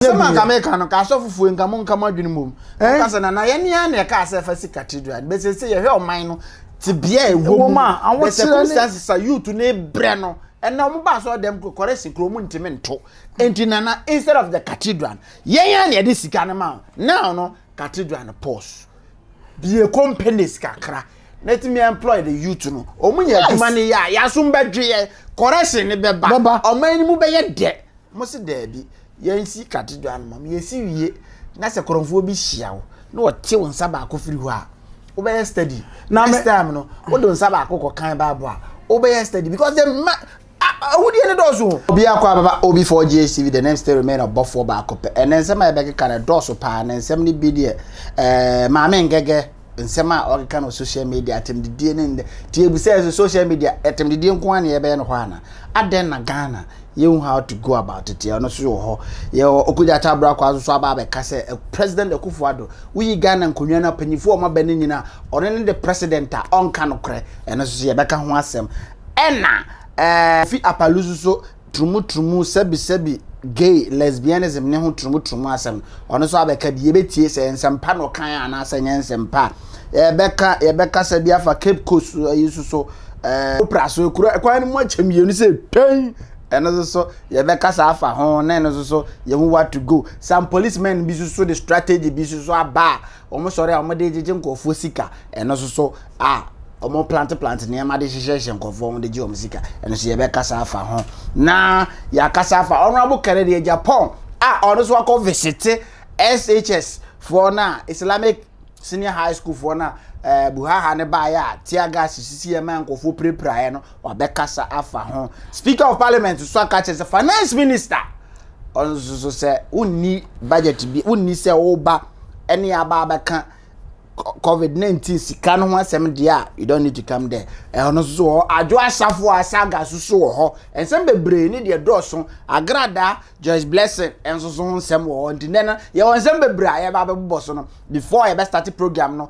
nyɛ bi nka meka no ka asɔfofoɔ nka mo nka mo adwene mmom ɛka sɛ nana yɛne ara na ɛka sɛ ɛfa si cathedral bɛsɛ sɛ yɛhwɛ ɔman no te bea a ɛwɔ mu the circumstances a youth ne brɛ no ɛna wɔn ba asɔ dɛm kɔkɔrɛ si kuro mu ntumi nto nti nana instead of the cathedral yɛn ara na yɛde sika no ma now no cathedral no pause bie companies kakra na ɛtumi employ the youth no wɔn nyɛ adwuma no yɛ a yɛasom bɛdwe yɛ correction no bɛba ɔman no mu bɛyɛ dɛ Ɔmo se daabi, yɛnsi katedral no ma mo, yɛsi wie na sɛ korɔmfoɔ bi hyia wo na ɔte wo nsa baako firi hɔ a, wobɛyɛ study. Na next time no, wode nsa baako kɔ kan Bible a, wobɛyɛ study because the ma ahudeɛ no dɔɔso. Obi akɔ ababa OB4 GHTV, the name still remain ɔbɔfoɔ baako pɛ. Ɛnɛ nsɛm a yɛbɛkeka no ɛdɔɔso paa, na nsɛm no bi deɛ, ɛɛ, Maame Ngɛgɛ. nsɛm a ɔkeka no social media atemdidie ne ndɛ ti ebisa ɛsɛ social media atemdidie nko ara na yɛbɛyɛ no hɔ ana adɛn na Ghana yɛhu how to go about it yɛ ɔno so wɔ hɔ yɛwɔ Okudza Atabra kwa so aba abɛka sɛ eh, President Akufo Addo woyi Ghana nkonnwa no apanyinfo a wɔaba no nyina ɔno ne de president a ɔnka no korɛ ɛno so yɛbɛka ho asɛm ɛna ɛɛ eh, fi apalu so so turumutrumu, sɛbisɛbi, gay, lesbianism ne ho turumutrumu asɛm. Ɔno nso abɛka bi, yɛbɛtie sɛ nsɛmpa na ɔkan anaasɛ nyɛ nsɛmpa. Yɛbɛka yɛbɛkasa bi afa Cape Coast yi nso so, ɛɛ opera so ekura kwan no mu akyɛ mmienu sɛ twɛn. Ɛno nso so yɛbɛkasa afa ho na ɛno nso so yɛhu what to go. Some policemen bi nso so de strategy bi nso so aba a Wɔn sɔre a wɔde gyegye nkurɔfoɔ sika, ɛno nso so a wɔn plante plante nneɛma de hyehyɛhyɛ nkurɔfoɔ wɔn de gye wɔn sika, ɛno nso yɛbɛkasa afa ho. Na yɛakasa afa Honourable Kennedy Agyapong a ɔno nso akɔ visite SHS foɔ no a Islamic Senior High School foɔ no a eh, Buhaha ne baeɛ a tear gas sisi ɛma nkurɔfoɔ pirapiraeɛ no Wabɛkasa afa ho. Speaker of Parliament nso aka kyerɛ sɛ Finance Minister ɔno nso so sɛ wonni budget bi wonni sɛ woba ɛne aba abɛka covid nineteen sika no ho asɛm deɛ a you don't need to come there ɛhɔ no nso wɔ adwo asafo a saga soso wɔ hɔ nsɛm bebree ne deɛ dɔɔso agrada Joyce Blessing nso so ho nsɛm wɔ hɔ nti nnɛ no yɛwɔ nsɛm bebree a yɛba abɛbobɔ so no before yɛbɛ start program no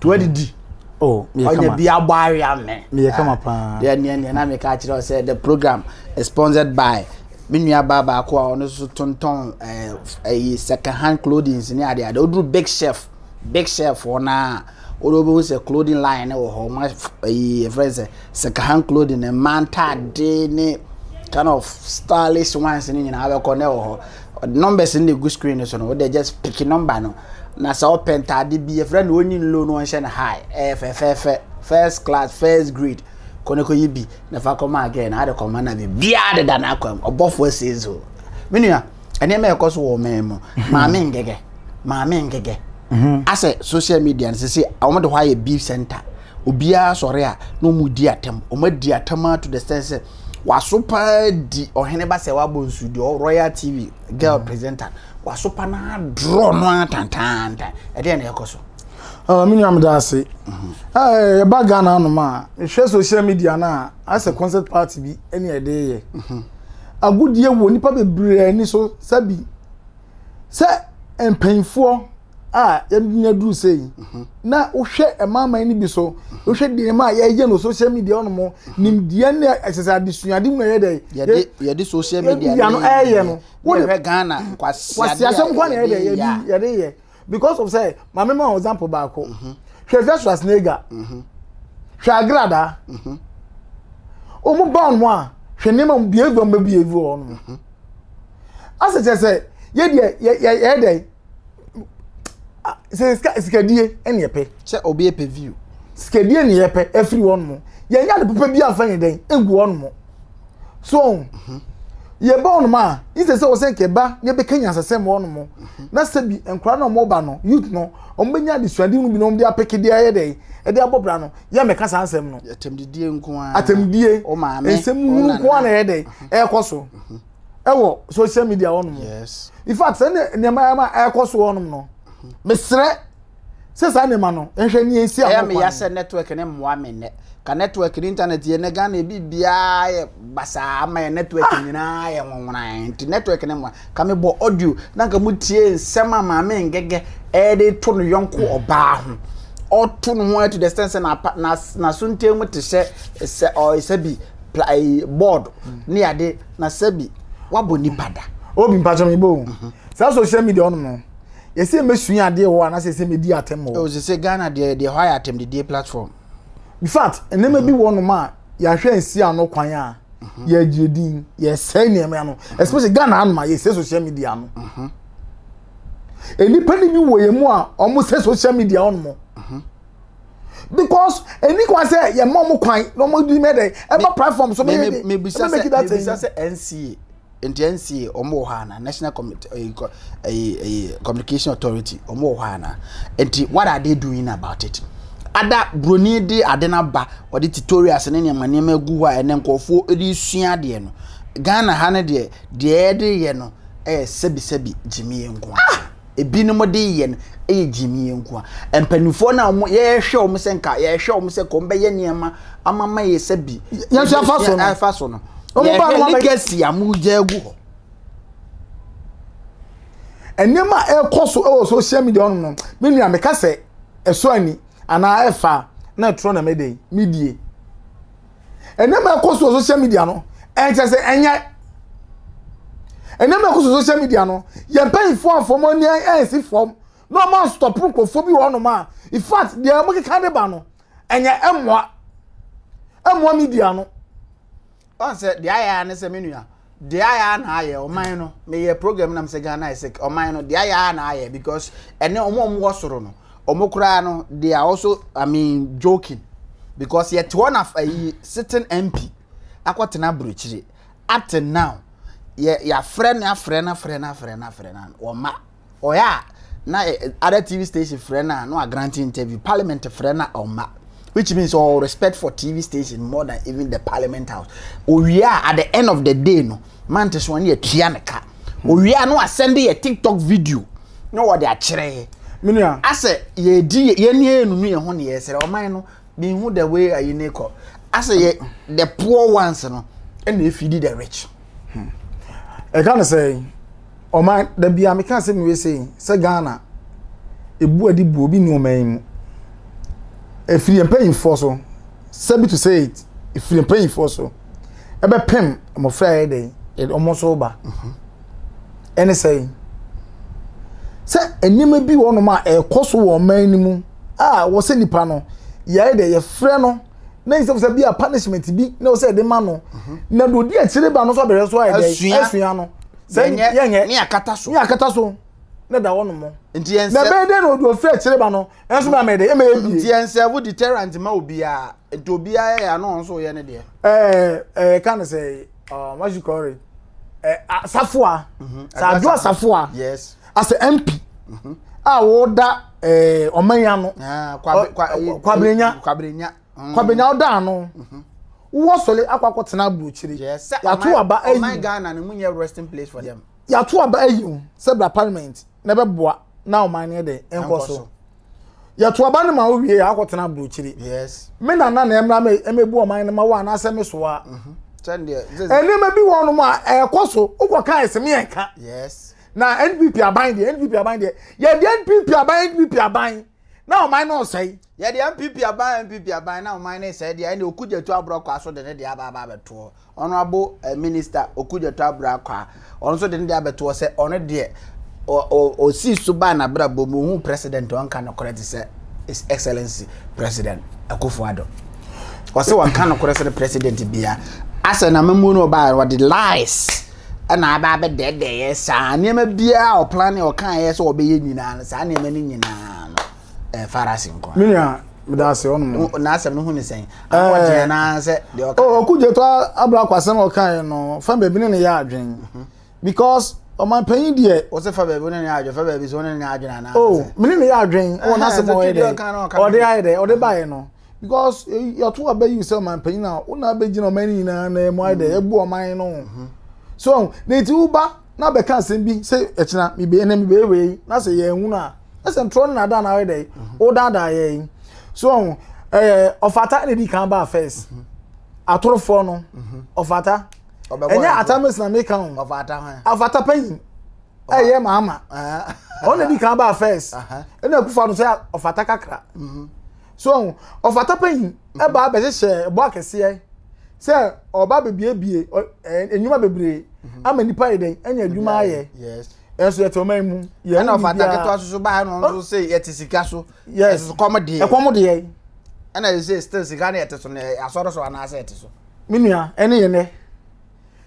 To adidi. Oh, me yɛ kama. Ɔnyɛ bi abɔ awia me. Me yɛ kama ah, paa. Yɛ neɛ neɛ na me ka kyerɛ sɛ the program is sponsored by me nua baa baako a ɔno nso tontɔn ɛɛ eh, ɛyi eh, second hand clothing ne ade ade. Oduru big chef big chef hɔ naa. Wode wobɛhu sɛ clothing line wɔ hɔ ma ɛyi eh, ɛfrɛ sɛ second hand clothing mmaa ntaade ne kind of stylish ones ne nyinaa bɛkɔ na ɛwɔ hɔ Ɔde numbers no na egu screen no so no, wode just pick number no. Na sɛ ɔpɛ ntaade bi, yɛfrɛ no onyi no low no ɔnhyɛ no high. Ɛyɛ fɛfɛɛfɛ, first class, first grade. Kɔ na kɔyi bi na fa kɔma agɛn na ade kɔma na biribiara deda n'akwam. Ɔbɔfo asie so. Me nua, nneɛma ɛkɔ so wɔ ɔman mu. Maame ngɛgɛ, maame ngɛgɛ. Mhm. Asɛ social media no sisi wɔn de hɔ ayɛ beef center. Obiara sɔre a na wɔn di atam. Wɔn adi atam to the sense sɛ Wasopa di ɔhene basa wabɔ nsu di royal tv girl mm. presenter wasopa na adorɔ no ara tantaantan ɛdeɛ na ɛkɔ so. Ah, me nua meda ase mhm. eh, ɛba ghana anom a mehwɛ social media no a asɛ mhm. concert party bi ɛne ɛde yɛ mhm. agodie wɔ nnipa bebree ani so sɛbi sɛ mpanyinfoɔ a yɛnya duru sɛ yi mhm. na wohwɛ ɛmaaman no bi so mhm. wohwɛ nneɛma a yɛyɛ no social media ɔno mo mhm. nimdeɛ ne ɛsɛ sɛ adesuade mu na yɛyɛ dɛ yɛde yɛde social media no ɛyɛ no wohwɛ ghana kwasiasɛm kɔ na yɛyɛ dɛ yɛde yɛde yɛ because of sɛ maame ma example baako hwɛ versus asnega hwɛ agrada wɔn ba wɔn a hwɛ nneɛma mu bie gu wɔn bɛ bie gu wɔn asɛ kyerɛ sɛ yɛ deɛ yɛ yɛ yɛ dɛ. sɛ sika sikadie ɛna ɛpɛ. sɛ obi ɛpɛ view. sikadie na yɛpɛ ɛfiri wɔn mo yɛn nyɛ adepopa bi anfa yɛn dɛn egu wɔn mo so mhm. yɛba wɔn mo a yi sɛ sɛ wɔsɛn kɛba ne bɛka nyansasɛm wɔn mo mhm. na sɛ bi nkora na wɔn ba no youth no wɔn bɛnya adesuade no bi na wɔn de apɛkɛ de ayɛ dɛ ɛde abɔ bra no yɛ mɛka saa nsɛm no. atɛmdidie nko ara atɛmdidie nsɛm hunu nko ara na ɛyɛ dɛ mhm. ɛkɔ so. ɛwɔ social media hɔ nom yes in fact sɛ nneɛma ɛma ɛkɔ so hɔ nom no mhm. mesrɛ sɛ saa nneɛma no nhwɛ ne ɛsi akɔ kwan ɛyɛ meyɛ sɛ network ne mmoa me nnɛ ka network ne internet yɛ ne ghana ebi biara yɛ basaa ama yɛ network ah! nyinaa yɛ nwonworan nti network ne mmoa ka me bɔ audio na nka mo tie nsɛm a maame ngɛgɛ ɛde to no yɔnko ɔbaa ho ɔto no ho to the extent sɛ n'aso ntam te sɛ sɛ ɔyɛ sɛ bi plae board ne ade na sɛbi wabɔ nipa da. obi mpatsɔ mi bɔ o mhm. saa social media ɔnom no yɛsɛ mɛsua adeɛ wɔ anasɛ yɛsɛ mɛdi atɛm wɔ. ɔsɛ sɛ ghana deɛ deɛ hɔ ayɛ atɛmdidie platform. in fact nneɛma bi wɔ nom a yɛahwɛ nsi ano kwan a mhm. yɛgye din yɛsɛe nneɛma ano mhm. especially ghana anom a yɛsɛ social media no nnipa no bi wɔ yɛn mu a wɔsɛ social media ɔnom because ɛni kwan sɛ yɛ mɔ mo kwan na ɔmo di mɛ dɛ ɛma platform so mɛ de mebisa sɛ mebisa sɛ NCA nti NCA ɔmo wɔ hɔ ana national committee ɛyi eh, ɛyi eh, eh, ɛyi communication authority ɔmo wɔ hɔ ana nti what are they doing about it ada broni de ade no aba ɔde tutorials ne nneɛma nneɛma gu hɔ a ɛnɛ nkurɔfoɔ de sua adeɛ no ghana ha no deɛ deɛ ɛde yɛ no ɛyɛ sɛbisɛbi gyimie nko a. Ah! ebinom de yɛ no yɛ gyimie nko a. Mpanimfoɔ no a wɔn yɛhwɛ wɔn sɛ nka yɛhwɛ wɔn sɛ kɔn bɛyɛ nneɛma ama ma yɛ sɛ bi. Yɛn nso afa so no. Afa so no. Wɔn ba no wɔn legacy a wɔn gya agu hɔ. Nneɛma a ɛrekɔ so wɔ social media wɔn no, me nua meka sɛ ɛso ani anaa ɛfa na ɛtorɔ na mede medie. nneɛma ɛkɔ so wɔ social media no ɛnkyɛ sɛ ɛnyɛ nneɛma ɛkɔ so social media no yɛn mpanyinfoɔ afɔm ani ɛnsi fam na wɔn asotɔpo nkurɔfoɔ bi wɔ hɔnom a in fact deɛ wɔn keka de ba no ɛnyɛ ɛmoa ɛmoa media no. ɔn sɛ deɛ ayɛ ara ne sɛ me nua deɛ ayɛ a na ayɛ ɔman no meyɛ program nam sɛ ghana ayɛ sɛ ɔman no deɛ ayɛ a na ayɛ because ɛne ɔmo ɔmo wɔ soro no ɔmo koraa no they are also i mean joking because yɛte hɔ na ayi sitting mp akɔtena aburokyire up till now yɛ yɛafrɛ no afrɛ no afrɛ no afrɛ no afrɛ no wɔma ɔyɛ a na eh, eh, other tv station frɛ no a na wagrante interview parliament frɛ no a ɔmma which means ɔwɔ respect for tv station more than even the parliament house owie a at the end of the day no mante so ɔne atua ne ka hmm. owie a na wasɛnde yɛ tiktok video na wɔde akyerɛ yɛ menua asɛ yɛdi yɛne yɛnunu yɛn ho ne yɛsrɛ ɔman no mehu the way ayi ne kɔ asɛ yɛ the poor ones no ɛna efidi the rich. Hmm. ɛka ne sɛ ɔman da bia meka sɛ mewei sɛ sɛ ghana ebu adi bu obi ne ɔman yi mu efiri mpanyinfoɔ so sɛbi to say it efiri mpanyinfoɔ so ɛbɛpem mmɔfra yɛ dɛ yɛde wɔn so ba mhm. ɛne sɛ sɛ nneɛma bi wɔ nom a ɛkɔ so wɔ ɔman no mu. a wɔsɛ nipa no yɛayɛ dɛ yɛfrɛ no na nsɛm sɛ bi a punishment bi na ɔsɛ yɛde ma no mhm. na deɛ ɔdi akyire ba no nso abɛhwɛ so ayɛ dɛ asua no sɛ yɛnyɛ ne akata so ne akata so na da hɔ nom nti yɛn sɛ na bɛyɛ dɛ na ɔdi ɔfiri akyire ba no ɛnso na mɛyɛ dɛ ɛmɛ yɛ bie nti yɛn sɛ wo deterrent ma obiara nti obiara yɛ ano nso yɛ ne deɛ ɛɛ ɛɛ ka ne sɛ ɔɔ wɔn ahyikɔre ɛɛ asafoa sɛ adu asafoa yes. as a mp mhm. a wɔda eh, ɔman yi ano ah, kwabrenya kwabrenya mm. ɔda ano mhm. wowɔ sɔre akɔ akɔ tena aburokyire yàtò aba ayi ɔman ghana ni mu nyɛ resting place for them yàtò aba ayi o sɛ bra parliament na ɛbɛ boa na ɔman yɛ dɛ ɛnkɔ so yɛto aba no ma wowie yɛ akɔtena aburokyiri me nana na ɛmmra me ɛmɛbu ɔman no ma wo anaasɛ me soa mhm. nneɛma bi wɔ nom a ɛkɔ so wokɔka ɛsɛ me yɛnka na npp aban deɛ npp aban deɛ yɛde npp aban npp aban na ɔman no ɔsɛe yɛde npp aban npp aban na ɔman no sɛe deɛ ɛne okudzeto aborɔkɔ aso de ne deɛ aba aba abɛtoɔ ɔno abo eh, minista okudzeto aborɔkɔ a ɔno nso de ne deɛ abɛtoɔ sɛ ɔno deɛ ɔsii so baa n'abrabɔ mu ohun president ɔnka nokorɛ te sɛ his excellency president akufo adɔ ɔsɛ wɔnka nokorɛ sɛ ne president bia asɛ na mamuo no ɔbaa ɔde lies na aba abɛdɛɛdɛeɛ saa nneɛma biara a ɔplane ɔkaeɛ sɛ ɔbɛyɛ nyinaa no saa nneɛma no nyinaa no ɛmfara ase nko me nua meda ase ɔnom n'asɛm no ho ne sɛn ahoɔden anaasɛ deɛ ɔka oh, ɔko gyeto abra kɔ asɛm a ɔkaeɛ no fa baabi ne ne yɛ adwen mhm. because ɔmanpanyin deɛ ɔsɛ fa baabi ne ne yɛ adwen fa baabi sɛ ɔne ne yɛ adwen anaasɛ oh, mene ne yɛ adwen wɔ n'asɛm ɔyɛ dɛ ɔde ayɛ dɛ ɔde baeɛ no because yɛto aba yi sɛ ɔman panyin a wo na abɛgyina ɔman no nyinaa na ɛmu ayɛ dɛ mm. ɛbu ɔman no mm-hmm. so na nti woba na bɛka asɛm bi sɛ ɛkyena mebɛyɛ na mebɛyɛ wei yi na sɛ yɛnwunu a na sɛ ntorɔ no na ada na ayɛ dɛ mm-hmm. wodaadaa yɛ yi so ɛɛ ɔfata na di kan baa first mm-hmm. atorofoɔ no ɔfata ɛnyɛ atamis na meka ho ɔfata panyin ɛyɛ maama ɔna di kan baa first ɛna akufa no sɛ ɔfata kakra so ɔho ɔfata panyin ɛba abɛhyehyɛ ɛbɔ akɛseɛ sɛ ɔba bebiebie nnwuma bebree mhm. ama nipa yɛ dɛn ɛnyɛ adwuma ayɛ ɛnso yɛte ɔman mu yɛn ɛna ɔfata ketewa soso baa no nso sɛ yɛte sika so ɛso kɔm deɛ ɛkɔm deɛ ɛna yɛ sɛ still sika no yɛte so no asɔre so anaasɛ yɛte so me nua ɛne yɛ nɛ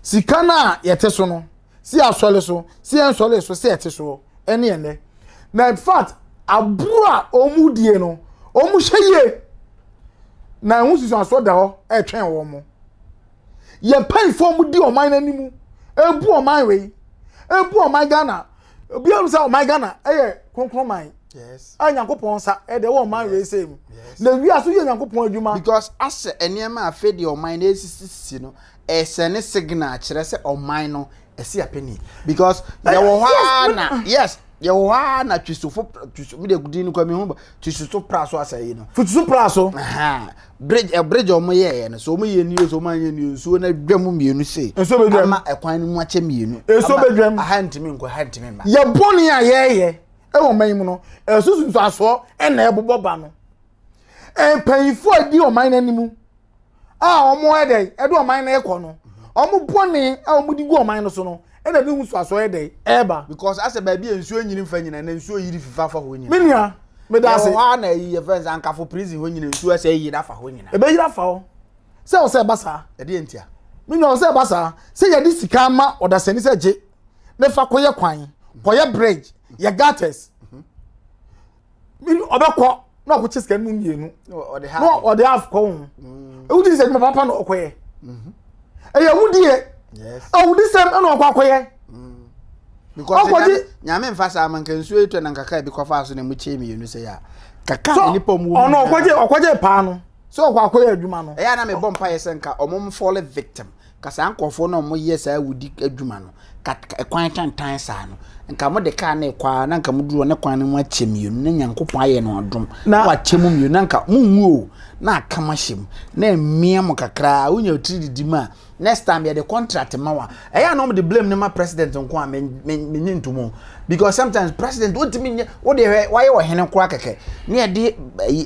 sika no a yɛte so no Se asɔre so, se ɛnsɔree so, se ɛte soɔ, ɛne ɛnnɛ. Na in fact, aburo a wɔn die no, wɔn hwɛ yie. Na ɛho susuansoɔ da hɔ ɛretwɛn wɔn. Yɛ mpanyinfoɔ wɔn di ɔman no anim, ebu ɔman wei, ebu ɔman Ghana. Obi ahun sɛ ɔman Ghana ɛyɛ kronkron man. Yes. A Nyankopɔn nsa ɛde wɔ ɔman wei sɛ mu. Na wia so yɛ Nyankopɔn adwuma. Because asɛ nneɛma a afei deɛ ɔman no ɛresisisisi no, ɛsɛne signal kyerɛ sɛ ɔman no ɛsi apɛni because yɛwɔ hɔ ara na yes yɛwɔ hɔ ara na twisofo twiso mi de din no kɔ mi ho twisofo pra so asɛ yi no twisofo pra so bridge ɛ eh, bridge ɔmo yɛ yɛ no so ɔmo yɛ nio so ɔmo anyɛ nio nsuo na dwa mu mmienu se nsuo bɛ dwa ama ɛkwan no mu akyɛ mmienu nsuo bɛ dwa mu aha ntumi nkɔ aha ntumi mma yɛ bɔ ne a yɛyɛ ɛwɔ mɛn mu no ɛsoso nso asoɔ ɛna ɛbobɔ ba no mpanyinfoɔ a di ɔman n'anim a wɔn yɛ dɛ ɛde ɔman no kɔ no wɔn bɔne a wɔn di gu ɔman no so no ɛna ne ho so aso yɛ dɛ ɛɛba. because asɛ baabi a nsuo nyini nfa nyina na nsuo yiri fifa afa hɔ nyina. menua meda ase. yɛ wɔ hɔ a na eyi yɛ fɛn sɛ ankafo prison hɔ nyina nsuo ɛsɛ yiri afa hɔ nyina. ebe yiri afa hɔ sɛ ɔsɛ ɛba saa. ɛdeɛ ntia. menua ɔsɛ ɛba saa sɛ yɛde sika ama ɔdasani sɛ gye ne fa kɔyɛ kwan kɔyɛ bridge yɛ gutters. mini ɔbɛkɔ na ɔkɔ kyɛ sika no mu mmienu na ɔde half kɔ ho mm. ewu di sɛ ɛdwuma papa na ɔkɔ yɛ mhm. ɛyɛ ewu di yɛ ewu di sɛm ɛna ɔkɔ akɔ yɛ ɔkɔgye nyame nfa saa ma nka nsuo yi tɔ na nka kaa bi kɔfa so na mu kyɛn mmienu sɛ yɛ a kaka so nipa mu ɔno ɔkɔgye ɔkɔgye paa no sɛ ɔkɔ akɔyɛ adwuma no ɛyɛ na mebɔ mpa yɛ sɛ nka ɔmo mfɔle victim Nka saa nkurɔfoɔ no a wɔyɛ saa awudi adwuma no ka ɛkwan tantan saa no nka mode kaa no rekɔ a na nka moduru hɔ ne kwan no mu akyɛ mmienu na nyankopɔn ayɛ no adom na wakyɛ mu mmienu na nka monwu o na aka mo ahyɛ mu na mmea mo kakraa wonya otiri didi mu a next time yɛde contract ma wa ɛyɛ a na wɔde blame no ma president nko a menye ntomu because sometimes president wontumi nyɛ wode hwɛ wayɛ ɔhene koraa kɛkɛ ne yɛde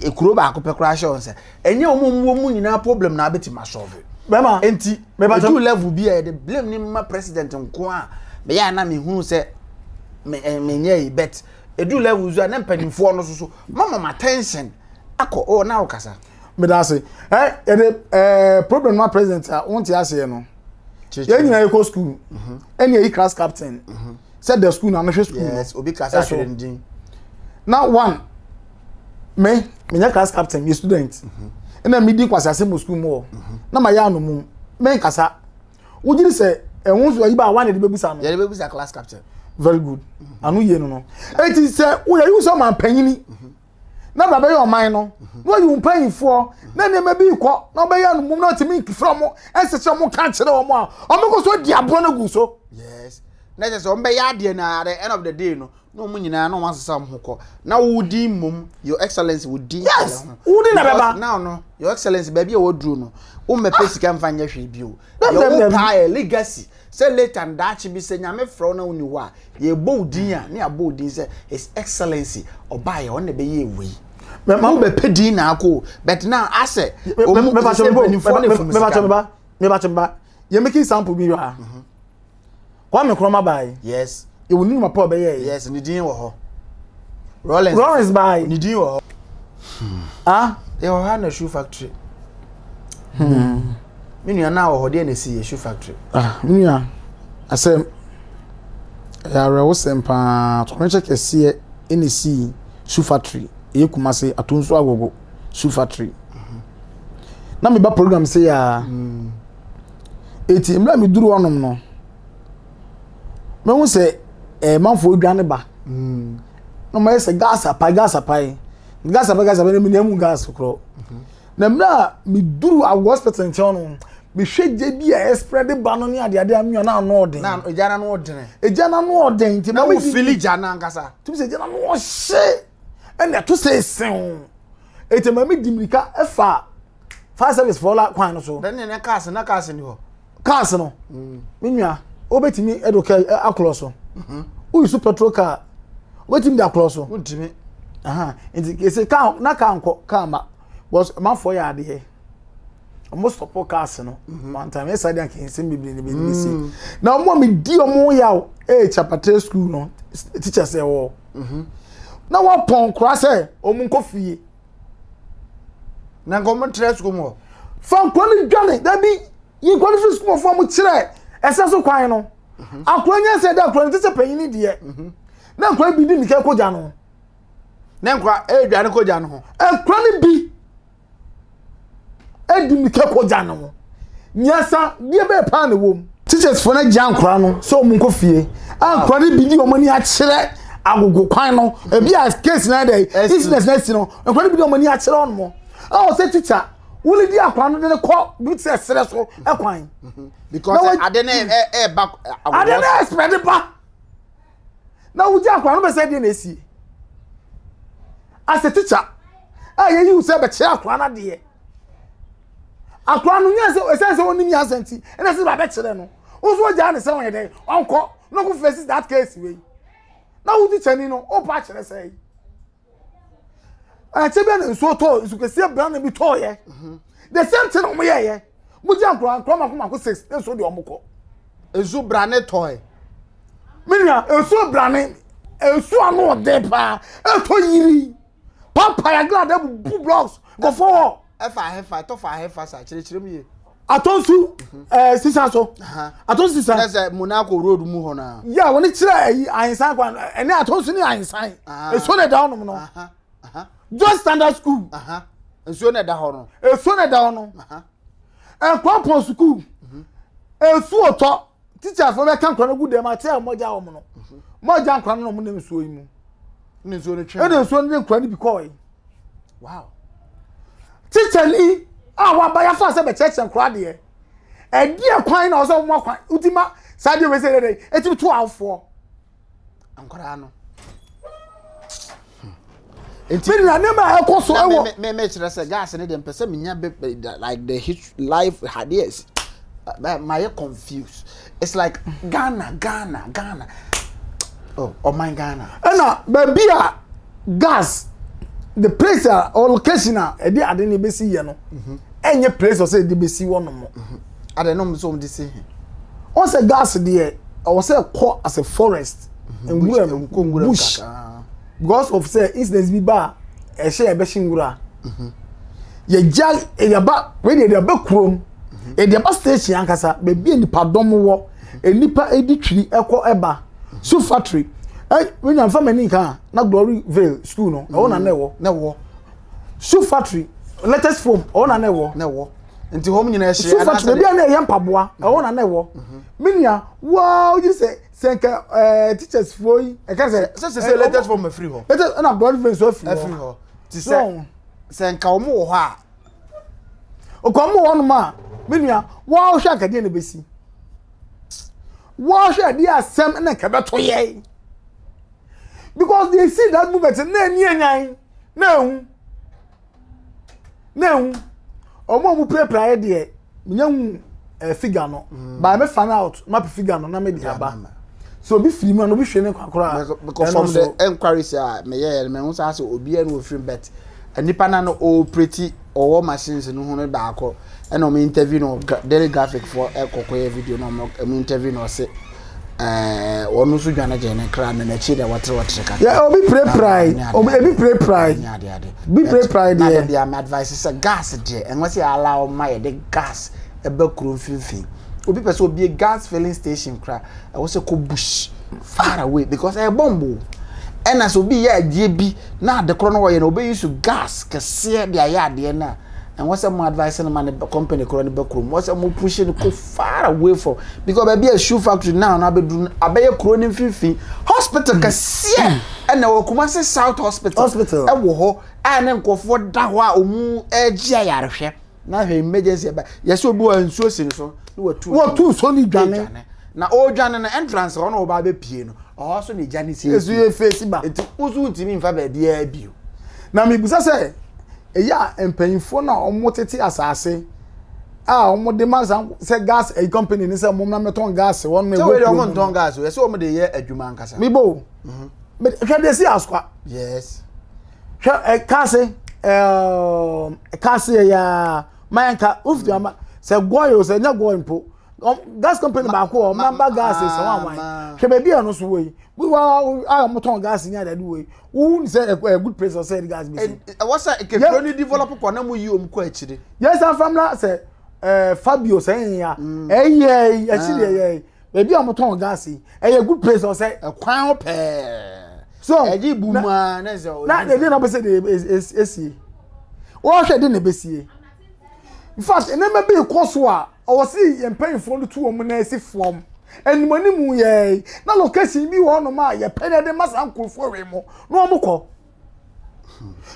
eh, kuro baako pɛ koraa hyɛ wo nsa Ɛnyɛ wɔn a wɔn wɔ mu nyinaa problem na abɛtumi asɔlve. Bɛma nti mebata. Ɛduru level bi a yɛde blame ne ma president nko a meyɛ a na mehunu sɛ me eh, menyɛ yi bet ɛduru level nso a na mpanimfoɔ no so so mama ma attention akɔ oh na wokasa. Meda ase. Eh, yɛde eh, problem ma president a wonte aseɛ no. Yɛn nyinaa yɛkɔ school mhm. ɛne ɛyi class captain mhm. sɛ da school na anohwɛ school no. Yes, obi class atwerɛ ndin. Na one me menyɛ class captain me student ɛna mhm. medi nkwasease mu sukuu mu hɔ mhm. na ma yɛ anomum menkasa wogyiri sɛ ɛho nso ayi ba a wane de bɛbusa no yɛde bɛbusa class captain very good mhm. ano yie no no eti sɛ woyɛ yi sɛ ɔman panyini na baba yɛ ɔman no na ɔyɛ wɔn mpanyinfoɔ na nneɛma bi kɔ na ɔbɛyɛ anomum na ɔtumi nkifra wɔn ɛsɛ sɛ wɔn ka kyerɛ wɔn a wɔn kɔ so di aboɔ no gu so. yes na ɛsɛ sɛ wɔn bɛyɛ adeɛ na at the end of the day no na wɔn nyinaa na wɔn asesa wɔn ho kɔ na wodi mmom your excellence wodi yes wodi na bɛba now no your excellence baabi a wɔduru no wɔn mɛpɛ sika nfa nyɛ hwee bi o yɛwɔ paa yɛ legacy sɛ late and daakye bi sɛ nyame frɛ wɔn na wɔn ni hɔ a yɛbɔ odin a ne abɔ odin sɛ his excellence ɔbaayɛ wɔn na bɛyɛ ewu yi mɛma wɔn bɛpɛ din na akɔ but now asɛ wɔn mɛpɛ sɛ mpanyinfoɔ na efum sika mɛpɛ sɛ mɛpɛ sɛ mɛpɛ yɛ making sample bi wa. Kwame Nkrumah baae. Yes. Yɛwɔ ne numa pa ɔbɛyɛɛ. Yes, ne din wɔ hɔ. Rollins. Rollins baae. Ne din wɔ hɔ. Hmm. Ah, yɛwɔ ha na shoe factory. Hmm. Me nua na wɔ hɔ deɛ na esi yɛ shoe factory. Ah, me nua. Asɛm. Ɛyɛ awerɛwosɛm paa. Tɔkɔnhyɛ kɛseɛ ɛna esi shoe factory. Ɛyɛ Kumase Atonso Agogo shoe factory. Mhm. Na meba program sɛ yɛ a. Hmm. Enti mmerɛ a meduru hɔ nom no, mahu sɛ ɛɛ manfoɔ redwane ba. Mm. Na wɔayɛ sɛ gas apae gas apae gas apae gas apae na menya mu gas korɔ. Mhm. Na mmerɛ a meduru awɔ hospital nkyɛn no mehwɛ gya bi a ɛsprɛ de ba no ne adeade a menya na ano ɔden. Na gya na ano ɔden. Gya na ano ɔden nti na wo fili gya na ankasa. Tumi sɛ gya na ano ɔhye ɛna ɛto sɛ esew. Eti ma me di mirika ɛfa. fire service fɔ la kwan no so. dɛn ne ne cars na cars ni hɔ. cars no mm. me nua wobɛtumi ɛdo kɛ akorɔ so mhm. woyi so petrol car wobɛtumi de akorɔ so. wontumi. nti kese car na car nkɔ car ma because manfoɔ yɛ adeɛ wɔn sɔpɔ cars no mhm. one time ɛsɛ adeɛ anka nsɛm bebree na bɛdi si mm. na wɔn a mi di wɔn yaw ɛyɛ eh, chapatre school no teachers ɛwɔ mhm. na wɔpɔn kora sɛ wɔn nkɔ fie. na nka wɔn tra sukuu mu hɔ fa nkwa no dwane dabi yi nkwa no firi sukuu mu fo wɔn kyerɛ ɛsɛ so kwan no mhm. akora nya sɛ ɛda akora no ti sɛ panyin deɛ mhm. na nkwa bi di nika kogya no na nkwa ɛredwane kogya no ho akora no bi. ɛdi mmirika kɔgya no ho nyansa deɛ bɛɛ paa na ɛwɔ mu teachersfoɔ no agya nkora no sɛ wɔn nkɔ fie a nkora no bi di wɔn ani akyerɛ agogo kwan no ebi a case na dɛ incident na si no nkora no bi di wɔn ani akyerɛ wɔn mo a wɔsɛ teacher wɔn di akora no de no kɔ bi te sɛ serɛ so kwan because ade no ɛɛba ade no ɛɛspɛde ba. na wogye akwadaa no bɛ sɛ deɛ na esie as a teacher a yɛyi wo sɛ bɛkyerɛ akwadaa no adeɛ akwadaa no nyɛ sɛ ɛsɛ sɛ ɔnim yɛ asɛm ti ɛna sɛ bɛkyerɛ no woso ɔgyaa ne sɛ ɔyɛ dɛ ɔnkɔ na ɔkɔ fɛsi that case wei na wo teacher ni no ɔpa akyerɛ sɛ yi. ɛkyɛ bɛ na nsuo tɔɔ nsu kɛseɛ brane bi tɔɔyɛ mhm. the same thing ɔmo yɛɛyɛ mo gya nkora nkora mako mako six ne nsuo deɛ ɔmo kɔ. nsuo brane tɔɔɛ. mi nua nsuo brane nsuo ano ɔden paa ɛtɔ yiri pampaya glada bubu blocks nkɔfɔ wɔ. ɛfa ahefa ɛtɔ fa ahefa sa kyerɛkyerɛ mu yie. atɔnsu ɛɛ sisan so atɔnsu sisan. ɛnna sɛ monaco road mu hɔ na. yà wọn kyerɛ ɛyi ahinsan kwan ɛnɛ atɔnsu ni ahinsan esuo na ɛda hɔ nom no joy standard school esuo na ɛda hɔ no esuo na ɛda hɔ no ɛkwan pɔn sukuu esuo tɔ. teachers no bɛka nkora no gu dɛm ate a wɔgya wɔn no wɔgya nkora no na wɔnam nsuo yi mu ɛna nsuo no twe ɛna nsuo no de nkora no bi kɔɔe wow teacher ni a waba yafa sɛ bɛkyerɛkyerɛ nkora deɛ ɛdeɛ kwan na ɔsɛ wɔn akwan wotima saa deɛ wɔsɛ dɛdɛ ɛtumi to awofoɔ. nkwadaa no. nti mi nua nneɛma a ɛkɔ so ɛwɔ. mɛ mɛ kyerɛ sɛ gas ne deɛ mpɛ sɛ menya bɛ bɛ like the hit life ideas bɛ ma yɛ confused it's like ghana ghana ghana oh ɔman oh ghana. ɛna baabi a gas the place a or location a ɛde ade ne bɛsi yɛ no ɛnyɛ place ɔsɛ ɛde bɛsi hɔ nom. Adɛn na ɔmo sɛ ɔmo de si he? Ɔn sɛ gas deɛ ɛwɔ sɛ ɛkɔ as a forest nwura mu Nkɔ nwura mu bush kakra. because of sɛ incident bi ba a ɛhyɛ yɛbɛhye nwura a yɛgya yɛde aba wei deɛ yɛde aba kurom yɛde aba station ankasa baabi a nipadɔm wɔ nnipa di twiri ɛkɔ ɛba so factory ɛ menya nfa m'ani nka a na glory vale school no ɛwɔ na na ɛwɔ Na ɛwɔ, so factory latest form ɛwɔ na na ɛwɔ na ɛwɔ. nti wɔn nyinaa ahyia so fat baabi a na ɛyɛ mpaboa ɛwɔ na na ɛwɔ minia waa oyi sɛ sɛ nka ɛɛ teachers foɔ yi ɛka sɛ sɛ sɛ sɛ latest form afiri hɔ ɛtɛ ɛna blood veins afiri hɔ afiri hɔ ti sɛ sɛ nka wɔn wɔ hɔ a okɔ wɔn wɔ hɔ nom a minia waa ɔhwɛ akadeɛ na ebesi waa ɔhwɛ adeɛ asɛm ɛna nka ɛbɛto yɛ because they see that movement na ɛni ɛnyan na ehu. na ehu wɔn a wɔpirapira yɛ deɛ menya hu ɛɛ figure no mm. by me fan out map figure no na me de aba so obi firi mu a na obi hwɛ ne nkwakoraa because from the enquiries a meyɛ yɛ no mehu sɛ asɛ obiara na ofiri bet nipa na no ɔɔpireti ɔwɔ machines no ho no baako. Ɛna ɔmo interview no daily graphic foɔ ɛkɔ kɔyɛ video na ɔmo ɔmo interview na ɔse ɛɛ wɔn nso dwane gyɛn ne kra na n'akyi na wɔtere wɔtere ka. yɛ obi pirepirae obi ebi pirepirae bi pirepirae deɛ. na de deɛ ama advice sɛ gas deɛ ɛnwa sɛ ala ɔma yɛ de gas ɛbɛ kuro mfimfini obi pɛ sɛ obi gas filling station kora ɛwɔ sɛ kɔ bush far away because ɛyɛ bɔmbo ɛna sɛ obi yɛ adeɛ bi na adekorɔ no wɔyɛ na obi yi so gas kɛseɛ de ayɛ adeɛ na. ɛhɔ sɛ mo advice no ma ne company korɔ no bɛ kurom hɔ sɛ mo push no kɔ far away from because baabi a shoe factory now na abɛduru no abɛyɛ kuro no mfimfini hospital hmm. kɛseɛ hmm. ɛna wɔ kuma se south hospital hospital ɛwɔ hɔ a ne nkurɔfoɔ da hɔ a wɔn ɛregye ayarehwɛ na hwɛ emergency ɛba yɛsɛ obi wɔ nsuo si ne so na wɔtu wɔtu so ne dwane na ɔredwane no entrance hɔ na ɔba abɛpie no ɔhɔ so ne gya ne si esu yɛ face ba eti wosu ntumi nfa baabi ɛbi o na mibisa sɛ Ɛyɛ a mpanyimfoɔ no a wɔtete asase a wɔde ma saa sɛ gas ɛyi company ne sɛ wɔn na mɛtɔn gas wɔn na ɛwɔ kurom. Wɔn ntɔn gas o yɛsɛ wɔn de yɛ adwuma ankasa. Mibo o mhm. hwɛ de si asukwa. Yes. hwɛ ɛ kaase ɛɛ kaase yɛ yaa mayanka wofiti ama sɛ gɔɔ yɛ o sɛ nyɛ gɔɔ mpo gas company baako wɔ ɔmo namba gas sɛ wɔn awan hwɛ baabi a ɛno so wɔ yi wíwá a wɔn tɔn gas nyɛ adade wɔ yi wohun sɛ ɛkɔ ɛ good place ɔsɛ ɛdi gas bi si. ɛwɔ sɛ kekuro ni develop kɔ na mo yi wɔn kɔ akyire. yɛn san fam na sɛ ɛɛ fabio sɛ ɛyìn ya ɛyɛ ɛsi deɛ ɛyɛ ebi a wɔn tɔn gas yi ɛyɛ good place ɔsɛ. ɛkwan ho pɛɛ. so ɛdi bu mu a na ɛsɛ ɔdi. na ɛdi na bɛ sɛ de esi wɔhwɛ de na bɛ sie. in fact nneɛma bi rekɔ so a ɔwɔ se yɛn mpanyinfoɔ no tu wɔn na esi fam anim anim yɛɛ na location bi wɔ hɔnom a yɛpɛ na yɛde ma saa nkurɔfoɔ wei mu na wɔn kɔ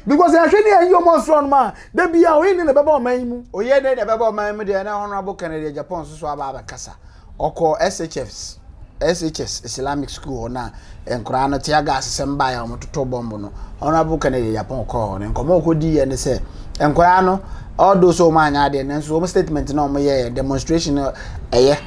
because yɛhwɛ ne yɛn yi wɔn asoro hɔnom a da bi a oyi ne na ɛbɛba ɔman yi mu. oyɛ ne na ɛbɛba ɔman mu deɛ na honorable kennedy japan nso so aba abɛkasa. Ɔkɔɔ SHS, SHS Islamic School hɔ no a nkoraa no tear gas sɛm baeɛ a wɔtotɔ bɔmb no, Honourable Kennedy Agyapong kɔɔ hɔ no nkɔmmɔ a ɔkɔdiiɛ ne sɛ nkoraa no although sɛ wɔn anyɛ adeɛ nanso wɔn statement no a wɔyɛɛ demonstration no ɛyɛ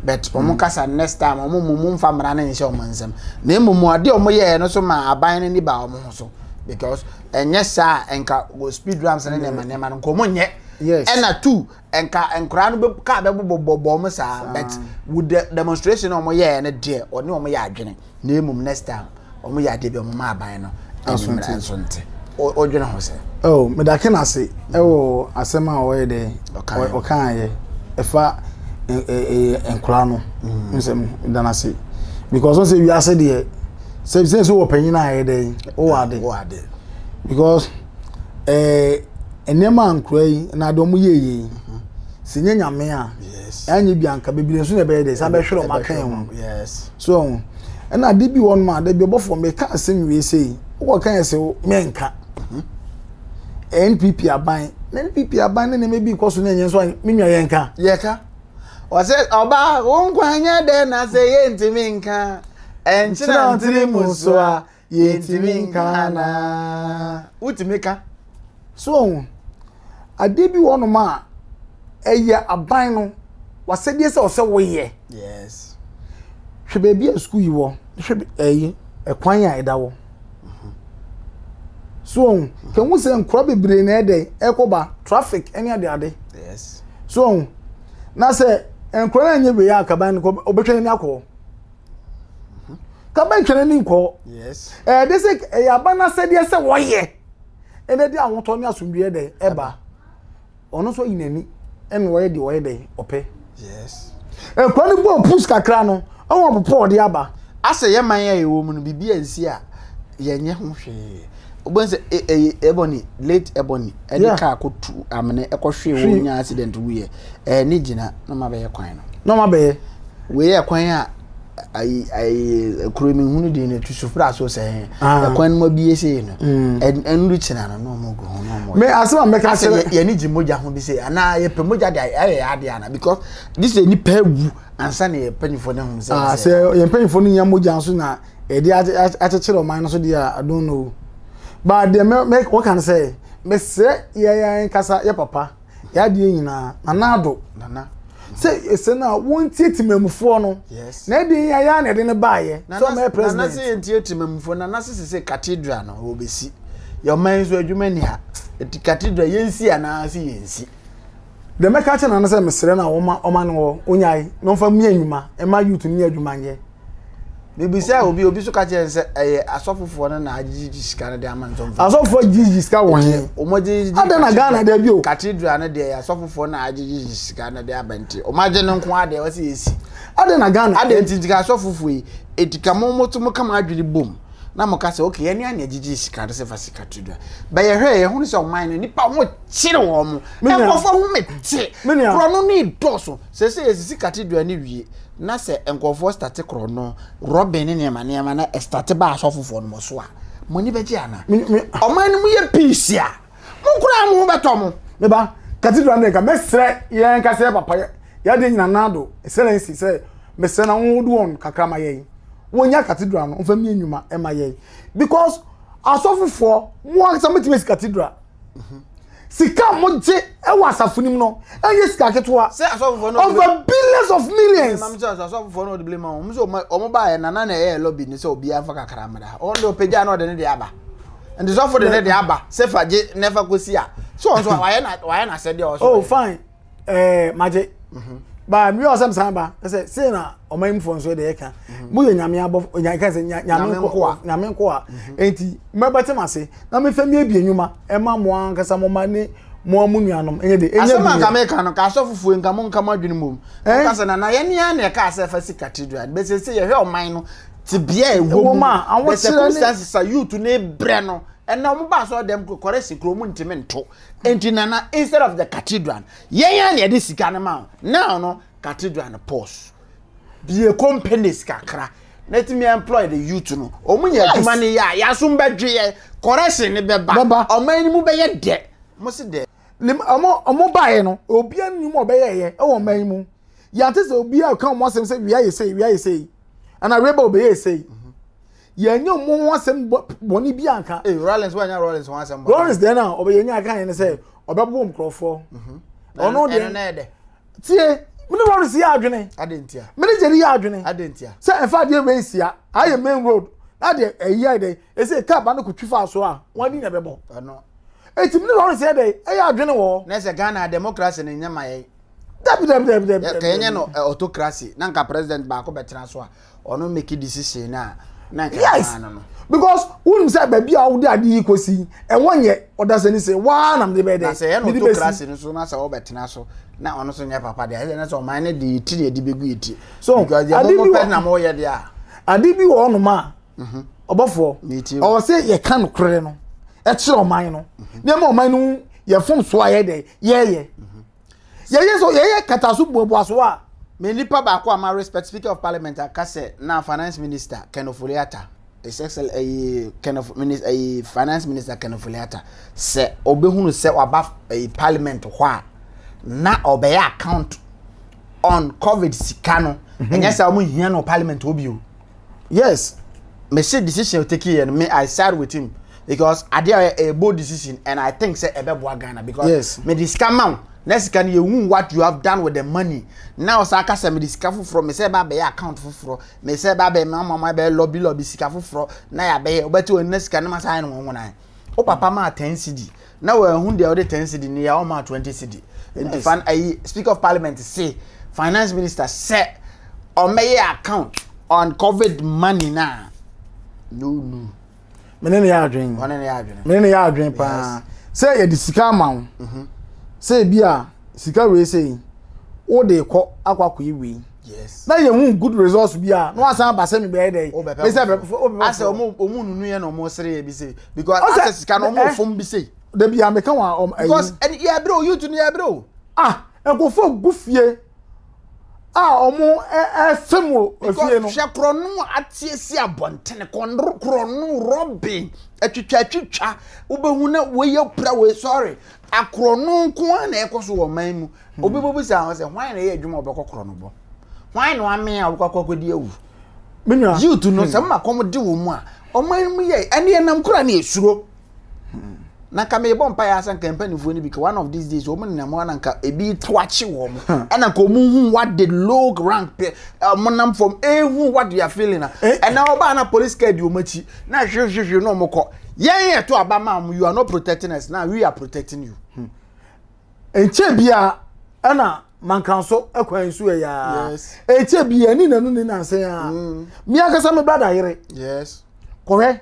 but wɔn mm. kasa next time wɔn mu mu nfa mmara no nhyɛ wɔn nsam na mmom adeɛ a wɔyɛɛ no so ma aban no ni baa wɔn ho so because ɛnyɛ saa nka wɔ speed rams ne nneɛma nneɛma no nkɔmmɔ nyɛ ɛna two nka nkwadaa no bɛ kaa bɛbobɔbɔ wɔn saa but wo de demonstration na wɔn yɛɛ no deɛ ɔne wɔn yɛ adwene na emu next time wɔn yɛ adeɛ bi wɔn ma aban no animmerɛ nso nte ɔdwene ho sɛ. ɛwɔ medake no ase ɛwɔ asɛm a ɔyɛ dɛ ɔkaayɛ ɛfa nkwadaa no mm. nsɛm no dan ase because ɔsɛ wiase deɛ sɛ sɛ sɛ wɔ panyin a yɛ dɛ wɔ ade because. eh, nneɛma a nkura yi na de wɔn yɛ yie yi sɛ nye nyame a ɛnyɛ bi anka bebree nso na ɛbɛyɛ dɛ saa bɛhwere wɔn aka ho so ɔho ɛna ade bi wɔn ma de bi ɔbɔfo meka asɛm wie sɛ yi wokɔ kan sɛ menka mhm. npp aban na npp aban ne nneɛma bi kɔ so na ɛnyɛ nso me nua yɛnka yɛka wɔsɛ ɔbaa wo nkwa nyɛ dɛ na sɛ yɛntumi nka ɛnkyerɛ ntere mu so a yɛntumi nka anaa wotumi ka so ohun adeɛ bi wɔ nom a ɛyɛ aban no wasɛdeɛ sɛ ɔsɛ woyɛ yes hwɛ baabi a sukuu yi wɔ hwɛ ɛyi ɛkwan a ɛda wɔ so ohun kɛn ho sɛ nkura bebree na ɛdɛ ɛkɔba traffic ɛne ade ade yes so ohun na sɛ nkura na nyɛ wei akaban no ɔbɛtwa n'ani akɔ. kabɛntwɛrɛ ne nkɔ ɛyɛ de sɛ ɛyɛ aba no asɛdeɛ sɛ wɔyɛ ɛna de ahotɔ ne asomdwoeɛ dɛn ɛba ɔno nso ayi n'ani ɛna ɔyɛ deɛ ɔyɛ dɛn ɔpɛ nkwa no bɔ pus kakra no ɛwɔ ɔpopɔ ɔde aba asɛ yɛ man a yɛwɔ mu no biribi ansi a yɛnyɛ ho hwee wobɛhu sɛ e- ɛyɛ ebony late ebony ɛde Yeah. kaa kɔ tu amene ɛkɔ hwee Hwee. wɔn nya accident wuyɛ ɛɛ ne gyina na ɔma bɛyɛ kwan no na ɔma bɛyɛ wei yɛ kwan a ayi ayi kuro mi hunu din no tu supra so sɛ hɛn Ah. ɛkwan no mu abie sei no Mm. ɛn- ɛnuru kyina no na ɔmo gu ho na ɔmo me asɛm a mɛka asɛ kyerɛ yɛne gye mogya ho bi sɛ anaa yɛpɛ mogya de ayɛ ayɛ yɛ adeɛ ana because this is nipa awu ansa na yɛ mpanyinfoɔ no ahum sɛ Ah, ɛsɛ. sɛ yɛn mpanyinfoɔ no nya mogya nso na yɛde akyekyere ɔman no so deɛ a I don't know but deɛ mɛ mɛ wɔka no sɛ mesrɛ yɛn yɛn nkasa yɛ papa yɛ adeɛ nyinaa nana ado nana sɛ ɛsɛ no a wɔntie timamufoɔ no na ɛde yɛn ayɛ na ɛde no baayɛ sɛ ɔmɛ president nana sɛ yɛntie timamufoɔ nana sɛ sɛ sɛ cathedral no wɔbɛsi yɛ ɔman so adwuma ni ha ɛti cathedral yɛnsi anaa sɛ yɛnsi Deɛ mɛka akyerɛ nana sɛ mesrɛ no a ɔma ɔma no hɔ onyae na ɔmfa mmea nnwuma ɛma youth no nyɛ adwuma nyɛ. Mebisa obi obi so ka kyerɛ sɛ ɛyɛ asɔfofoɔ no na agyegyegye sika no de ama no ntɔmfa. Asɔfofoɔ gyegyegye sika wɔ he? Wɔn gyegyegye. Ada na Ghana da bio. Cathedral no deɛ yɛ asɔfofoɔ na agyegyegye sika no de aba nti wɔn agye no nko adeɛ wɔsi esi. Ada na Ghana. Ada nti nti ka asɔfofoɔ yi eti ka mo mo to mo ka mo adwene bom na mo ka sɛ okay yɛn ni ani agyegye sika no sɛ fa si cathedral bɛyɛ hwɛ yɛ ho sɛ ɔman no nipa wɔn kyere wɔn mo nkurɔfoɔ ho me te korɔ no ne dɔɔso sɛ sɛ yɛsisi cathedral no wie na sɛ nkurɔfoɔ state korɔ no rɔbin ne nneɛma nneɛma na ɛstate ba asɔfofoɔ no mo so a mo ani bɛgye ana ɔman no mu yɛ peace a mo koraa mo ho bɛtɔ mo ne ba cathedral no nka mɛsrɛ yɛn ka sɛ papa yɛde nyina nado excellency sɛ mesrɛ na wɔn wode wɔn kakra ma yɛn wɔnya cathedral no mfa mmie nnwuma ɛma yɛn because asɔfofoɔ mo ankasa mɛtumi asi cathedral sika a wɔgye wɔ asafo no mu no ɛnyɛ sika ketewa over billions of millions. ɛnam sɛ asɔfofoɔ no ɔde blame wɔn sɛ wɔn baayɛ nana na ɛyɛ lobby ne sɛ obiara nfa kakra mmra wɔn de ɔpagya na ɔde ne de aba nti sɔfo de ne de aba sɛ fa gye na ɛfa kɔsi a so wɔn so wayɛ na wayɛ na asɛdeɛ ɔsɔ. oh fine. eh, magye mhm. ba mmiri a ɔsɛm san ba sɛ sei na ɔman mu fɔ nso de ɛka mhm. moyɛ nyame abɔfo ɔnya ka sɛ nyame nkoa nyame nkoa mhm. enti mɛbɛte m'ase na mefɛ mi abie nnwuma ɛma mo ankasa mo ma ne mo amu nuanom ɛnyɛ de ɛnyɛ bi asɛm anka meka no ka asɔfo fuo nka mo nka mo adwene mu ɛka sɛ nana yɛn ni ara na ɛka asɛ fa si cathedral bɛsɛ sɛ yɛhwɛ ɔman no te bia ɛwɔ mu bɛsɛ circumstances a youth ne brɛ no ɛna wɔn ba asɔrɔ dɛm kɔrɛ si kuro mu ntumi nto Enti nana instead of the cathedral yɛn yɛn na yɛde sika no ma wo now no cathedral no pause bie companies kakra na ɛtumi employ the youth no ɔmo nya adwuma no yɛ a yɛasom bɛdwe yɛ correction no bɛba ɔman no mu bɛyɛ dɛ mo se dɛ ɔmo ɔmo baeɛ no obia nnim ɔbɛyɛ yɛ ɛwɔ ɔman yi mu yɛate sɛ obia ɔka ɔmo asɛm sɛ wia yɛ sei wia yɛ sei ana reba obɛyɛ sei yɛn nyɛ ɔmo ho asɛm bɔ bɔne bi anka. ee rollins wa nya rollins ho asɛm bɔ. rollins deɛ na ɔbɛ yɛn nyɛ aka yɛn sɛ ɔbɛ bɔ nkorɔfoɔ. Mhm. ɔno deɛ ɛno na ɛdɛ. tie mene rollins yɛ adwene. adi ntia. mene jerry yɛ adwene. adi ntia. sɛ ɛfa adeɛ wei nsia ayɛ main road na deɛ ɛyi ayɛ dɛ ɛsɛ kaa ba no kò twi fa so a wɔn adi na ɛbɛ bɔ. ɛno. eti mene rollins yɛ dɛ ɛyɛ adwene wɔ. na ɛsɛ ghana democracy ne nyɛ ma yɛ. dabi dabi dabi dabi. kɛnyɛ no autocracy na nka president baako bɛ tena so a. ɔno make decision no a na nka yes because wonim sɛ baabi a wode ade yi kɔsi ɛwɔ nyɛ ɔdasani sɛ waa nam de bɛɛ dɛ sɛ ɛno to krase no so na sɛ wobɛtena so na ɔno so nyɛ papa deɛ ɛsɛ na sɛ ɔman no de yɛ ti ne ɛde bɛgu yɛ ti so because deɛ mobɔ pɛ na moyɛ deɛ a ade bi wɔ ɔnom a mhm. ɔbɔfoɔ ɔwɔ sɛ yɛka nokorɛ no ɛkyerɛ ɔman no mhm. nneɛma ɔman no yɛfom so ayɛ dɛ yɛyɛ mhm. yɛyɛ so yɛyɛ kataso buabuaso a me nipa baako a ma respect speaker of parliament aka sɛ na finance minister kenofoliata his excel ɛyi kenof minister ɛyi finance minister kenofoliata sɛ ɔbɛhunu sɛ waba ɛyi parliament hɔ a na ɔbɛyɛ account on covid sika no ɛnyɛ sɛ wɔn hia no parliament hɔ bio. yes me se decision take yɛ no me i side with him because adeɛ a ɔyɛ a bold decision and i think sɛ ɛbɛboa ghana because yes me de sika ma wo na sika no yɛhu what you have done with the money na ɔsan ka sɛ me de sika foforɔ me sɛ ɛba abɛyɛ account foforɔ me sɛ ɛba abɛyɛ mama ma ɛbɛyɛ lɔbi lɔbi sika foforɔ na yɛabɛyɛ wobɛte wɔn na sika no ma saa yɛ no wɔn wɔn ayɛ o papa maa ten cedi na wɔahu deɛ ɔde ten cedi ne yɛ a ɔmaa twenty cedi nti fan ayi speaker of parliament se finance minister sɛ ɔmmɛyɛ account on covid money na na ɔnu mene ne yɛ adwene ɔne ne yɛ adwene mene ne yɛ adwene paa sɛ yɛde sika ama wo mhm. sɛ ebi a sika wei sei wode kɔ akɔ akɔyɛ wei yes na yɛ hu good results bi a na wasan aba sɛ mebɛyɛ dɛ me sɛ bɛbɛfo asɛ ɔmo ɔmo nunu yɛ na ɔmo sere yɛ bi sɛ because asɛ sika na ɔmo eh, fom bi sɛ dabi a meka wa ɔm ayi because ɛni yɛ abere o youth ni yɛ abere o ah nkofo gu fie a ɔmo ɛfɛ mu efie no because hwɛ korɔ no atie si abɔntene kɔndoro korɔ no rɔbin atwitwa atwitwa wobɛhu na wɔyɛ pira wɔ sorry Akorɔ no nko ara na ɛkɔ so wɔ ɔman mu. Hmm. Obi bobisa ho sɛ hwan na ɛyɛ adwuma a ɔbɛkɔ korɔ no bɔ? Hwan na wamee a ɔbɛkɔ akɔ akɔdi awu? Menua. Youth no hmm. sɛ mma kɔm de wɔ mu a ɔman mu yɛ ɛne ɛnam kora ne ɛsuro. Hmm. Na nka mebɔ mpa yɛ asɛ nka mpanimfoɔ no bi ka one of these days wɔn nenam hɔ na nka ebi to akye wɔn ɛna nka wɔn hu what the low rank pɛ wɔn nam fam ehu what they are feeling na ɛna ɔbaa na police car di wɔn akyi na hwehwehwe na wɔn kɔ. yɛn yɛ to aba maa mo you are not protecting us now we are protecting you hmm. nkyɛn bia ɛna mankan so ɛkwan so yɛ yaa nkyɛn bia ɛni nanu ne nansan yaa hmm. mi akasa mi brada yere kɔhɛ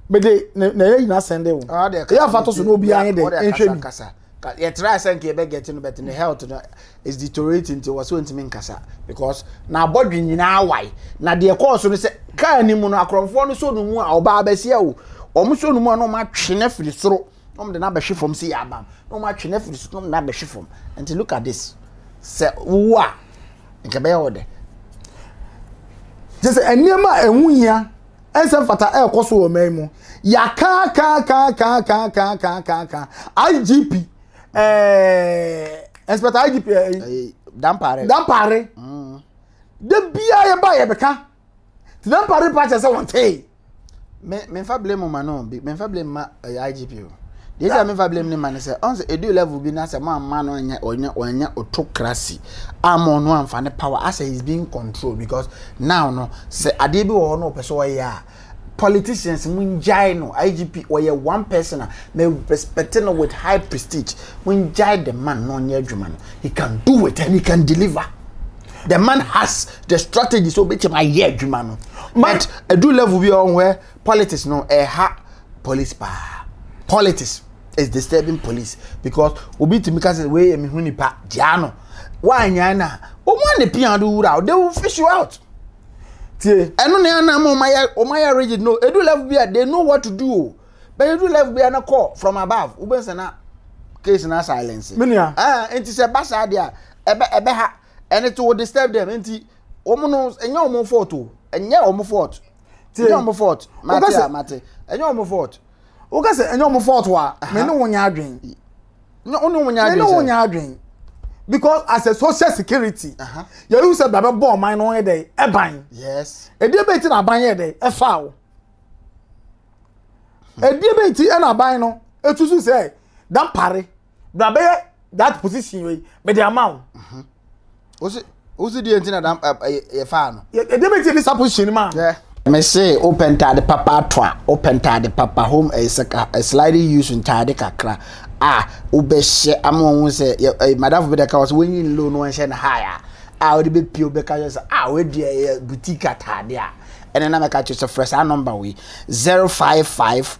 mede na yɛ nyina sɛn de wo ɛyɛ afa to so na obi ayɛ dɛ nhwɛ bi. Ka yɛ try sɛ nka yɛ bɛ get no but ne health no is deteriorating nti wɔ so ntumi nkasa because na abɔdwe nyinaa wae na deɛ kɔɔ so no sɛ kaa ni mu no akorɔmfoɔ no so no mu a ɔbaa bɛsia o wɔn so no mu a na wɔn atwe no afiri soro na wɔn de no abɛhwe fam si yɛ abam na wɔn atwe no afiri soro na wɔn de no abɛhwe fam nti look at this sɛ wowu a nka bɛyɛ wɔ dɛ gye sɛ nneɛma a ɛho hia ɛnsɛ mfata ɛrekɔ so wɔ ɔman yi mu yakaakaakaakaakaakaakaaka igp ɛɛ inspector igp ɛɛ eh, eh, dampare dampare mm. de bia yɛ ba yɛ bɛka te dampare pa kyɛ sɛ wɔn tee. me me nfa blame ma no me nfa blame ma ɛyɛ eh, igp o. Deɛ sɛ mefa blame ne ma ne sɛ ɔn sɛ edu level bi na sɛ mo amma no anyɛ ɔnyɛ ɔnyɛ autocracy ama ɔno amfa ne power asɛ he's being controlled because now no sɛ adeɛ bi wɔ hɔ na ɔpɛ sɛ ɔyɛ a politicians mo ngyae no IGP ɔyɛ one person a me respect no with high prestige mo ngyae the man na ɔnyɛ adwuma no he can do it and he can deliver the man has the strategy so obetumi ayɛ adwuma no but edu level bi ɔn wɛ politics no ɛha police paa politics is disturbing police because obi tumi ka sɛ wei yɛ me ho nipa gyaa no wanya na wɔn a ne pia do wura they will fish you out tie ɛno na ɛna ama wɔn ayɛ wɔn ayɛ rigid no edu level bi a they know what to do o bɛn edu level bi a na call from above wobɛn sɛ na case na silence. mi nua ɛɛ eh, nti sɛ ba saa deɛ ɛbɛ ɛbɛ ha ɛne to disturb them nti wɔn no ɛnyɛ wɔn fault o ɛnyɛ wɔn fault. tie ɛnyɛ ɔmo fɔt mate a mate ɛnyɛ ɔmo fɔt wokɛ sɛ ɛnyɛ ɔmo fɔt wa mɛ ne wo nyɛ adwen wo ne wo nyɛ adwen mɛ ne wo nyɛ adwen because as a social security yɛyi sɛ bɛbɛ bɔ ɔman no yɛ dɛ ɛban yes ɛdi ɛbɛ ti na aban yɛ dɛ ɛfa o ɛdi ɛbɛ ti ɛna aban no etusu sɛ dampare. na bɛyɛ that position wei mede ama wo mhm. wosi wosi deɛ nti na dam yɛ faa no ɛdeɛ bɛ ti ɛde sa position ma mese wopɛ ntaade papa ato a wopɛ ntaade papa home ɛyɛ sɛ ka sliding use ntaade kakra a wobɛhyɛ ama wɔn ho sɛ eh, madamfo bi da ka wɔ sɛ wɔnyi ne low no wɔnhyɛ no high a a wode bɛpie wobɛka yɛ sɛ a wɔadi ɛyɛ boutique ataade a ɛne na mɛka kyerɛ sɛ frɛ saa nɔmba wei 055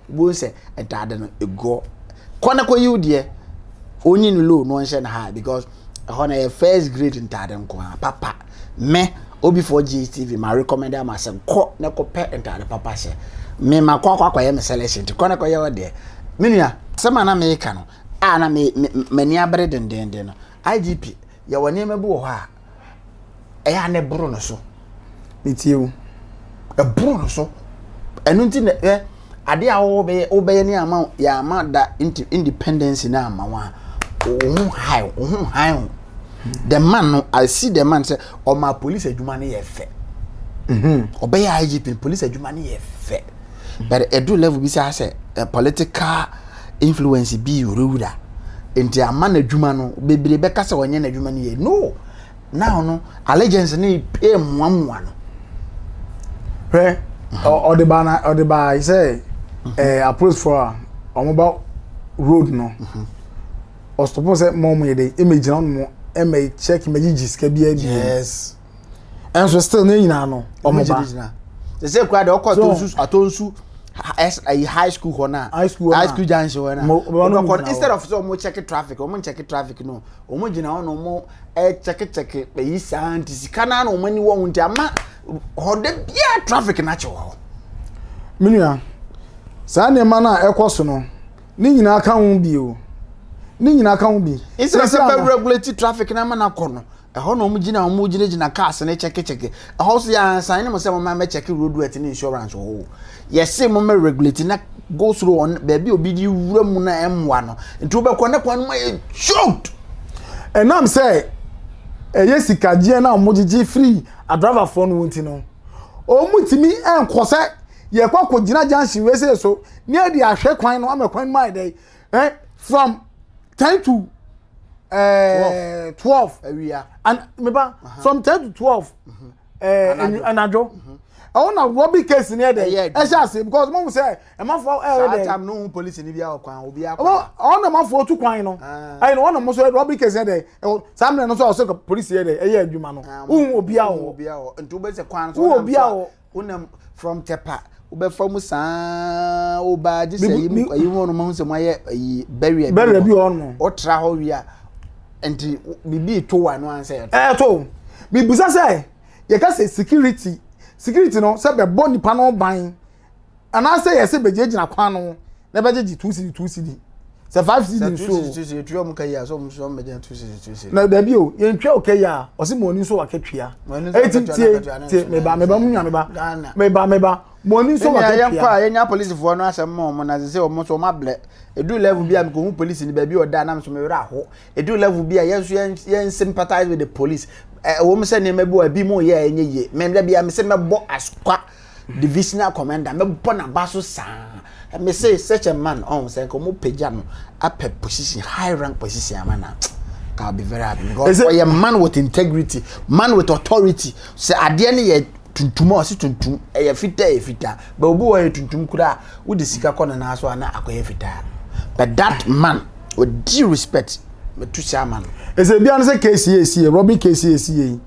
Wobɛhu sɛ ɛda ade no ɛguɔ. Kɔ na kɔyi wo deɛ. Onyi no low na ɔnhyɛ no high because ɛhɔ no ɛyɛ first grade ntaade nko ara papa. Me obi for GHTV ma recommend ama sɛ kɔ na kɔpɛ ntaade papa hyɛ. Me ma kɔ akɔ akɔyɛ me selection nti kɔ na kɔyɛ wo deɛ. Me nua asɛm a na meka no a na m'ani abere dendenden no IGP yɛwɔ nneɛma bi wɔ hɔ a ɛyɛ a na ɛboro no so metie o ɛboro no so ɛno nti na ɛ ade a wobɛyɛ wobɛyɛ ne ama yɛ ama da independence na ama wa wɔn ho high wɔn ho high o the man no i see the man sɛ ɔma police adwuma no yɛ fɛ ɔbɛyɛ igp police adwuma no yɛ fɛ. but ɛduru level bi saa sɛ eh, political influence bi wurawura nti ama n'adwuma no bebree bɛka sɛ ɔnyɛ n'adwuma no yie no now no allegiance no pɛ mmoamoa no hwɛ ɔde baa na ɔde baa sɛ ɛɛ apolisifoɔ a wɔn ba road no ɔsopɔ sɛ mɔmu yɛ dɛ ɛmɛ gyina wɔn mu ɛmɛ check mɛ gyigyi sika bi ɛbi yes. ɛnso still ne nyinaa no ɔmo ba sese kura de ɔkɔ atonsu atonsu ɛyi high school hɔ na high school high school junction hɔ na ɔmo kɔ instead of sɛ ɔmo check traffic ɔmo check traffic no ɔmo gyina hɔ na ɔmo ɛkyɛke kyɛke ɛyi saa nti sika naa na ɔmo ani wɔ ho nti ama hɔ de bia traffic na kyɛ wɔ hɔ. menua saa nneɛma no a ɛkɔ so no ne nyinaa ka ho bi o ne nyinaa ka ho bi. instead of sɛ bɛ regulate traffic na ama na kɔ no. Ɛhɔ na wɔgyina a wɔgyinagyina cars no kyɛkekyɛke. Ɛhɔ nso yɛansan ne mo sɛ momma mɛkyɛke roadworthy ne insurance wɔ hɔ o. Yɛse mommɛ regulate na go slow on baabi a obi de wura mu na ɛmmoa no. Nti wobɛkɔ na kwan no mu ayɛ choked. Ɛnam sɛ ɛyɛ sikagyeɛ no a wɔgyegye firi adriverfoɔ no nti no, wɔtumi nkɔ sɛ yɛkɔ akɔgyina junction wei sei so ne yɛde ahwɛ kwan no ama kwan no mu ayɛ dɛ eh, from ten to ɛɛ twelve awia and meba from ten to twelve ɛɛ mm-hmm. eh, anadwo mm-hmm. ɛwɔ na robbery case ni yɛ dɛ ɛhyɛ ase because mo sɛ ɛmafo ɛyɛ dɛ saa time no ho police ni bi a ɔkwan obi akɔ ɔwɔ ɔwɔ na ɛmafo otu kwan no ah. ɛyɛ na wɔn na mo sɛ robbery case yɛ dɛ ɛwɔ saa mìíràn no so ɔsɛ police yɛ dɛ ɛyɛ adwuma no ohun obi awɔ obi awɔ nti o bɛ sɛ kwan so ɔnam so a Wonam from tɛpa wobɛfa mu saa wo baa gye sɛ yi mu ayi mu ɔnom ho sɛ mo ayɛ ayi barrier bi barrier bi ɔno ɔtra hɔ wia nti bibi to wa no ansɛ ɛto ɛto bibusa sɛ yɛka sɛ security security no sɛ bɛbɔ nipa no ban anaasɛ yɛ sɛ bɛgyinagyina kwan no na bɛgyegye two cedi two cedi sɛ five cedi nso two cedi two cedi etua ɔmo ka yi a sɛ ɔmo nso ɔmo bɛgyina two cedi two cedi na dabi o yɛn tua ɔka yi a ɔsi mo ani nso wakatua eti tie tie meba meba mu nua meba meba meba mo ani nso wakatua yɛn kɔ a yɛn nya polisifoɔ no asɛm mo ɔmo na sɛ ɔmo nso ɔmo ablɛ edu level bi a mekɔ hu polisi ni baabi ɔda anam so mewura aho edu level bi a yɛn nso yɛn yɛn sympathize with the police ɛwɔ mu sɛ nneɛma bi wɔ ebi mo yɛ ɛnyɛ yie mɛ dabi a mesɛ mɛbɔ asukwa. divisional commander mɛbɔ n'aba so saa me se such a man ɔn sɛ nka ɔmo pagya no apɛ position high rank position ama na ka be very happy because ɔyɛ man with integrity man with authority sɛ adeɛ no yɛ tuntum a ɔsi tuntum ɛyɛ fitaa yɛ fitaa bɛ obi wɔ yɛ tuntum koraa wodi sika kɔ ne nan so a na akɔyɛ fitaa but that man odi respect. mɛtu sɛ ama no ɛsɛ bia no sɛ kesi yɛsi yɛ robin kesi yɛsi yɛ yi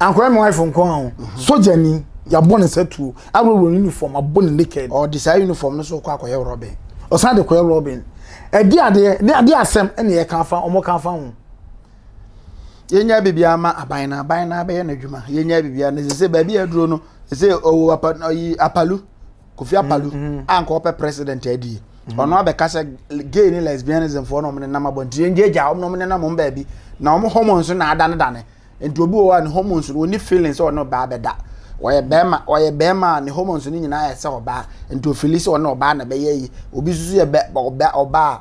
ankoraa me wife nko a ho mhm. sogyani yɛabɔ ne satuo aworɔworɔ ne uniform abɔ ne naked ɔde saa uniform no so kɔ akɔyɛ robin ɔsan de kɔyɛ robin ɛde adeɛ ne adeɛ asɛm ɛne yɛ kan fa ɔmo kan fa ho yɛnya biribiara ma aban na aban na abɛyɛ n'adwuma yɛnya biribiara na sɛ sɛ baabi aduro no sɛ ɔwɔ apa ayi apalu kofi apalu mm, mm. a nka ɔpɛ president adie mm. ɔno abɛka sɛ gay ne lesbianism foɔ na ɔmo ne nam abɔnten yɛn gyegya ɔmo na ɔmo ne nam ɔmo baabi na ɔmo hormones na adanedane nti obi wɔ hɔ a ne hormones no wɔni feelings sɛ ɔne ɔbaa bɛda ɔyɛ bɛrima ɔyɛ bɛrima a ne hormones no nyinaa yɛ sɛ ɔbaa nti ofili sɛ ɔne ɔbaa na bɛyɛ yi obi nso yɛ bɛ ɔbaa ɔbaa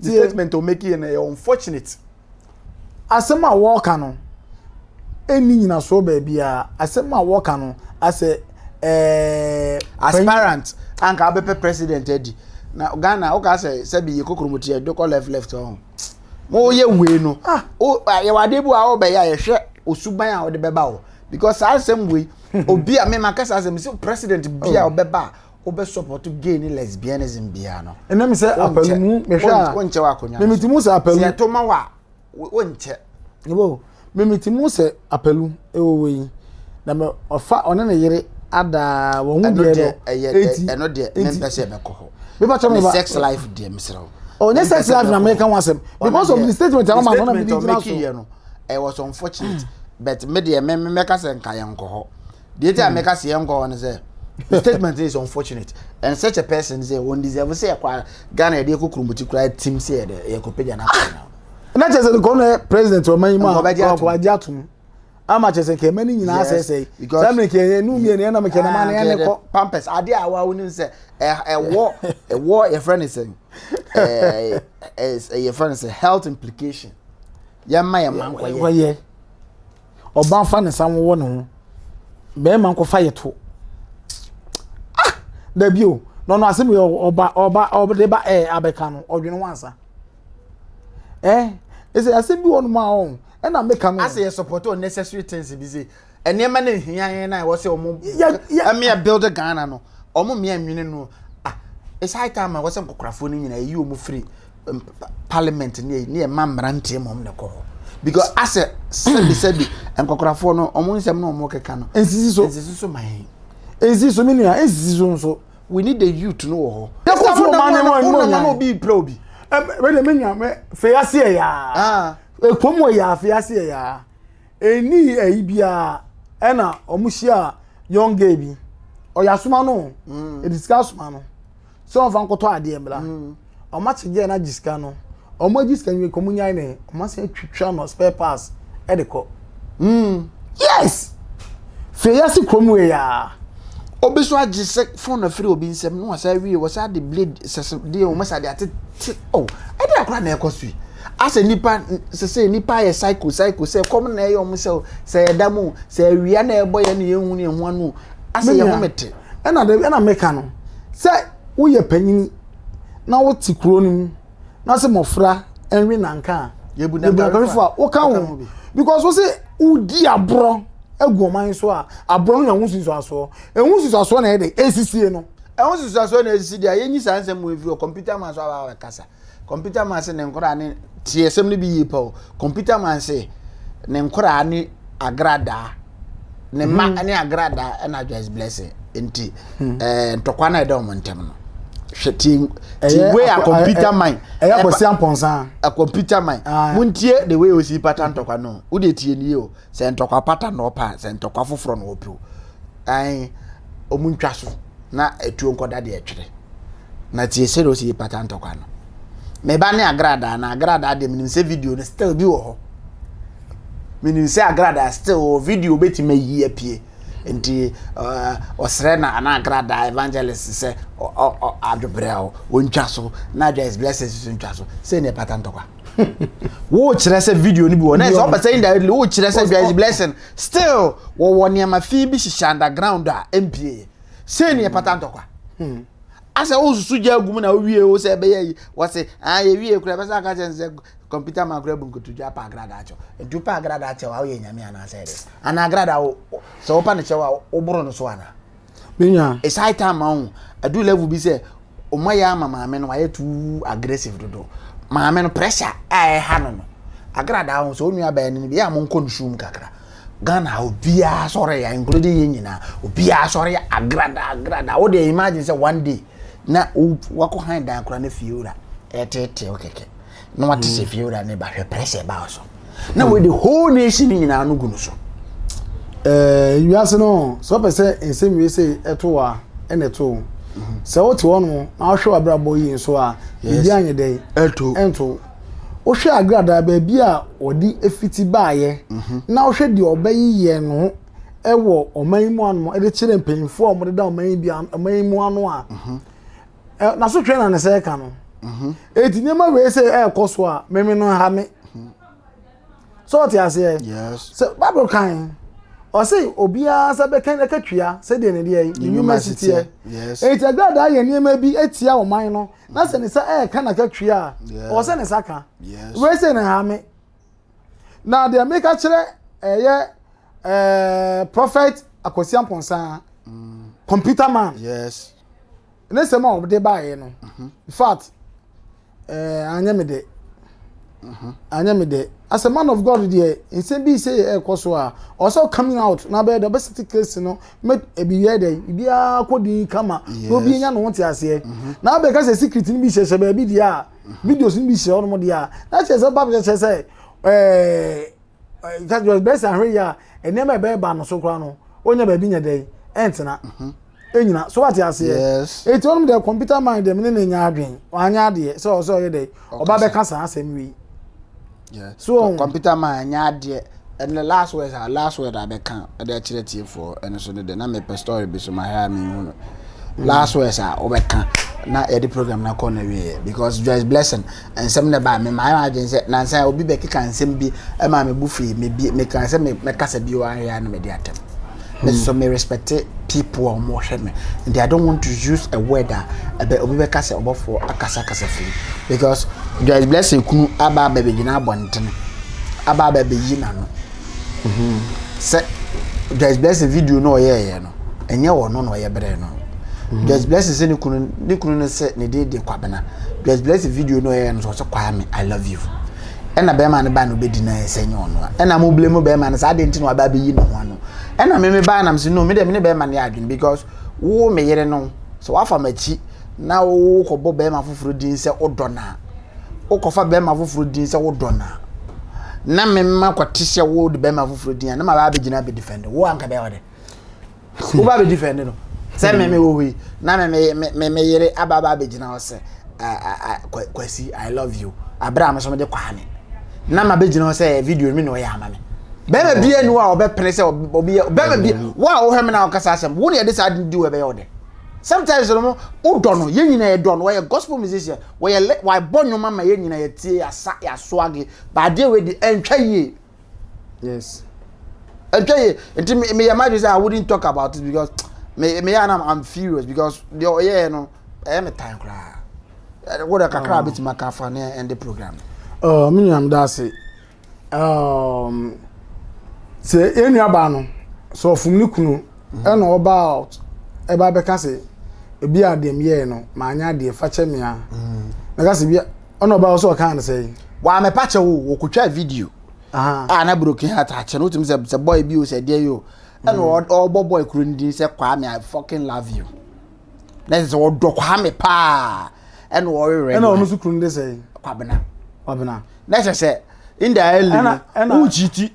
The statement o make yɛ na yɛ unfortunate. Asɛm a wɔka no ɛnni nyinasoɔ baabiara. Asɛm a wɔka no asɛ eh, aspirant anka abɛpɛ president adi. Na Ghana woka sɛ sɛbi yɛ kokromoti ɛde kɔ left left ɔho. Mo yɛ wei no. Ah, o yɛ wade bi a wɔbɛyɛ a yɛhwɛ osuban a wɔde bɛba o. Because saa asɛm wei obi a me makasa asɛm sɛ president bi a ɔbɛba a wobɛ support gay ne lesbianism biara no ɛnam sɛ apɛlu mu mehwɛ a wonkyɛ wɔ akonnwa no mimiti mu sɛ apɛlu sɛ ɛto ma wɔ a wonkyɛ yɛbɔ mimiti mu sɛ apɛlu ɛwɔ wɔ yi na mɛ ɔfa ɔne ne yere adaa wɔn ho deɛ no eti ɛno deɛ mempɛ sɛ ɛbɛkɔ hɔ bíbá kyɛn mi ba sex life deɛ mesrɛ o ɔnyɛ sex life na mɛka ho asɛm because of the statement a wɔn ma no na mi di gyina so ɛwɔ so unfortunate but me deɛ mɛka sɛ nka yɛn nkɔ hɔ. deɛ nti a hmm. meka sɛ yɛnkɔ hɔ no sɛ the statement is unfortunate and such a person sɛ wɔn deserve sɛ yɛkɔ ghana yɛde yɛkɔ kurumbuti koraa tim sɛ yɛde yɛkɔ pagya no akɔ no na kyerɛ sɛ nkɔm na president ɔma yi mu a ɔkɔbagye atom ama kyerɛ sɛ nkɛmɛ no nyinaa sɛ sɛ sɛ mene kɛ ɛnu mmiɛ ne ɛnam kɛ nama ne ɛne kɔ pampers adeɛ a wa wonim sɛ ɛwɔ ɛwɔ yɛfrɛ ne sɛ yɛfrɛ ne sɛ health implication yɛma yɛ ma nkɔyɛ Ɔbaa nfa ne nsa nwowɔ ne ho. Bɛrima nkɔfa yɛ to. Ah! Dabi o. Na ɔno asɛm yɛ ɔba ɔba ɔde ba ɛɛ abɛka no ɔdwene ho ansa. Eh? Ɛsɛ asɛm bi wɔ no mu a ɔn. Ɛna meka no. Asɛ yɛ support unnecessary things bi se nneɛma na ehia yɛn na ɛwɔ sɛ ɔmo ɛmea build Ghana no. Ɔmo mmea nwene no. Ah! It's high time a ɛwɔ sɛ nkɔkorafoɔ no nyinaa yɛyi ɔmo firi parliament ne ne yɛ ma mmeranteɛ mmom na ɛkɔ hɔ because asɛ sɛbi sɛbi nkɔkorafoɔ no wɔn nsɛm na wɔn keka no nsisi so nsisi so man nsisi so menua nsisi so nso we need the youth no wɔ hɔ yɛkɔ so wɔn ane wɔn mu nana obi pira obi wɛde menua mɛ fɛ ase yɛ yaa ɛkɔm ah. wɔ yaa fɛ ase yɛ yaa ɛni ɛyi biara ɛna wɔn hyia young gay bi ɔyɛ asoma no ɛdi mm. sika asoma no sɛ ɔmfa nkɔtɔ adeɛ mmra ɔma kye gyeɛ no agye sika no ɔma agye sika nwie kɔmu nyae ne ɔma sɛ atwitwa no spare parts ɛde kɔ mm. yes fie yɛ se kurom wei a obi so agye sɛ fon na firi obi nsɛm na wasa awie wasa de blade sɛsɛ deɛ wɔn sɛ ade atete oh ɛde akora na ɛkɔ so yi asɛ nipa sɛsɛ nipa yɛ cycle cycle sɛ kɔm na ɛyɛ wɔn sɛ sɛ ɛda mu sɛ awia na ɛbɔ yɛ na yɛn hu ne ho ano asɛ yɛ home te ɛna de ɛna meka no sɛ woyɛ panyini na wote kuro no mu na sɛ mmɔfra ɛnwe nanka a yɛbu nankarefo a woka ho because wo sɛ wodi aborɔ agu ɔman so a aborɔ no na ɛho susuasoɔ ɛho susuasoɔ na ɛde ɛsisie no ɛho susuasoɔ na ɛsisi deɛ yɛnyi saa nsɛm mu ɛfiri ɔ computer man so aba kasa Computer man se ne nkoraa ne tie asɛm no bi yie pa o. Computer man se ne nkoraa ne agradaa ne mma mhm. ne agradaa ɛna advice blessing nti hmm. eh, ntɔkwa no a ɛda wɔn ntɛm no hwɛ ti ti wei a computer man ɛyɛ akɔsi ampɔnsa a computer man ah. mo ntie the way osi pata ntɔkwa no o de tie nie o sɛ ntɔkwa pata na ɔpa sɛ ntɔkwa foforɔ na ɔpɛ o ɛn ɔmo ntwa so na etuo nkɔda deɛ ɛtwerɛ. na tie sɛdeɛ ɔsi yi pata ntɔkwa no meba ne agradaa na agradaa deɛ menim sɛ video no still bi wɔ hɔ menim sɛ agradaa still wɔ video bɛtumi ayi apue nti ɔsrɛ na ana agradaa evangelist sɛ adwobrɛ a ɔntwa so na adwa is blessed so ntwa so sɛ ne ɛpata ntɔkwa wokyerɛ sɛ video no bi wɔ na ɛsɛ ɔpɛ sɛ indirectly wokyerɛ sɛ adwa is blessing still wɔwɔ nneɛma fi bi hyehyɛ underground a ɛmpieɛ sei ne ɛpata ntɔkwa hmm. asɛ wosusu gya agu mu na wowie wo sɛ ɛbɛyɛ yi wɔse ah, yɛwie kura bɛsɛ aka kyɛ sɛ kɔmputa ma kora bu nkotodwa pa agradaa kyɛw nti wopa agradaa kyɛw a woyɛ nyame anaasɛ ɛde anaa agradaa wo sɛ wopa no kyɛw a woboro no so anaa menua ɛsae ta ma wo adu level bi sɛ ɔma yɛ ama maame no wayɛ too aggressive dodo maame no pressure a ɛha no no agradaa ho sɛ onua bɛyɛ no bi a mo nkɔ no sum kakra Ghana ha obiara sɔre ya including yɛn nyinaa obiara sɔre ya agradaa agradaa wo deɛ imagine sɛ one day na wakɔ han dan koraa na fie wura ɛteetee wo kɛkɛ na wate sɛ fie wura ne ba hwɛ pressure ɛba wo so na wei de whole nation no nyinaa no gu no so eh, wiase no sɛ ɔpɛ sɛ nsɛm wie sɛ ɛto wo a ɛna ɛto wo mhm. sɛ wote hɔ no na wohwɛ w'abrabɔ yie nso a biribi anyɛ dɛn ɛnto wohwɛ agradaa baabi a wɔde afiti baayɛ mhm. na wohwɛ deɛ ɔbɛyeyɛ no ɛwɔ ɔman yi mu ano ɛde kyerɛ mpanyinfoɔ a wɔde da ɔman yi mu ano a mhm. ɛ na so twɛn na ne sɛ ɛka no mhm. eti nneɛma wei sɛ ɛɛkɔ so a mɛmi no ha me mhm. so ɔte aseɛ sɛ bible kan ɔse obiara sɛ bɛka ɛka tua sɛdeɛ ne deɛ ne nnwuma si teɛ eti agradaa yɛ nneɛma bi etia ɔman no na sɛ ne sɛ ɛɛka na ka tua a ɔsɛ ne sa ka wei sɛ ne ha me. na deɛ meka kyerɛ ɛyɛ ɛɛ prophet akwasi ampɔnsa mm. computer man yes ne sɛm a ɔde baeɛ no mhm. in fact ɛɛ anyɛ me dɛ mhm. anyɛ me dɛ as a man of god deɛ nsɛm bi sɛ yɛ ɛkɔ so a ɔsɛ coming out na bɛyɛ dɛ ɔbɛsete case no mɛ ebi yɛ dɛ ebiara kɔ din kama na obi nya ne ho te aseɛ mhm. na abɛka sɛ secret no bi hyɛhyɛ baabi deɛ a. Videos no bi hyɛ hɔnom deɛ a, na kyerɛ sɛ Bible kyerɛ sɛ ɛɛ kyerɛ bɛyɛ sɛ ahwɛ yie a nneɛma a ɛbɛyɛ ba no so koraa no ɔnya baabi nyɛ dɛn ɛntena mhm. ɛnyina so wate aseɛ ɛti ɔnom deɛ computer mind deɛ mene ne nya adwen ɔanyɛ adeɛ sɛ ɔsɛ ɔyɛ dɛn ɔba bɛka saa asɛm wei Yeah. So wɔn computer man ɛnyɛ adeɛ ɛnna last words a last word a bɛka ɛde akyerɛ tiefoɔ ɛno so no de na mepɛ story bi so mahwɛ a mehu no mm. last words a wɔbɛka na yɛde program na kɔ na wieɛ because Joyce Blessing nsɛm na ɛbaa me maa yɛn adwene sɛ nansa obi bɛkeka nsɛm bi ɛma me bu fii me bi meka sɛ mɛkasa bi wɔ ahwɛ a na mɛde atɛm. Me so me respect people a ɔmo hwɛ me and I don't want to use a word a ɛbɛ obi bɛka sɛ ɔbɔfoɔ akasa kasa firi because Joyce Blessing kunu aba abɛ bɛgyina abɔntene aba abɛ bɛyi n'ano mhm. sɛ Joyce Blessing video no ɔyɛɛyɛ no ɛnyɛ wɔ no na ɔyɛ brɛ no mhm. Joyce Blessing sɛ ne kunu ne kunu no sɛ ne din de Kwabena Joyce Blessing video no ɔyɛɛyɛ no sɛ ɔsɛ Kwame I love you ɛna bɛrima no ba no bɛdi no ayɛ sɛ nyɛ ɔno a ɛna mo blame bɛrima no sɛ adeɛ nti na waba abɛyi ne ho ano ɛna me me baa nam sɛ no me deɛ me ne bɛrima no yɛ adwene because wo me yere no sɛ wafa m'akyi na wokɔbɔ bɛrima foforɔ din sɛ wodɔ no a wokɔfa bɛrima foforɔ din sɛ wodɔ no a na mema kɔte sɛ wode bɛrima foforɔ din a na mabaa bɛgyina bɛdefɛnde wo anka bɛyɛ ɔde wo ba bɛ defend no sɛ hmm. mɛmɛ wɔ hɔ yi na mɛmɛ mɛmɛ yere aba aba abɛgyina hɔ sɛ kwasi i love you abira mi nso mi de kwaa mi na ma bɛgyina hɔ sɛ video mi na ɔyɛ ama mi bɛrima bia ni wa ɔbɛpene sɛ ɔbi bɛrima bia wo a wohwɛ me na wokasa asɛm wo ne ɛde saa di wɔ ɛbɛyɛ ɔdɛ sometimes no wodɔ no yɛn nyinaa yɛdɔ no wɔyɛ gospel musician wɔyɛ wɔabɔ nnwom ama yɛn nyinaa yɛtie yɛasa yɛasoage baadeɛ wei de ɛntwa yie yes ɛtwa yɛ nti mi mi yɛ ma de sɛ i wouldn't talk about it because me me yɛ anam i'm furious because deɛ ɔyɛ no ɛyɛ me tan koraa wo de kakra a bɛtumi aka afa ne ɛnde program oh, me nuam da ase um, sɛ yɛn nuabaa no sɛ ɔfom ne kunu mhm. ɛna ɔba out ɛba bɛka sɛ ebi a deɛ meyɛɛ no maanyɛ adeɛ fakyɛ me a mɛka mhm. sɛ bi ɔna ɔba wo sɛ ɔkaa no sɛ waa mɛpa kyɛ wo wɔkɔtwaa video a na broken heart akyɛ no wotumi sɛ sɛ boy bi o sɛ deɛ yi o ɛna mm. ɔbɔ boy kuro no din sɛ kwame i fucking love you na ɛsɛ sɛ ɔdɔ kwame paa ɛna ɔwerɛ ɛna ɔno nso kuro no de sɛ kwabena kwabena na ɛsɛ sɛ indirectly ɛna ɛna wokyi ti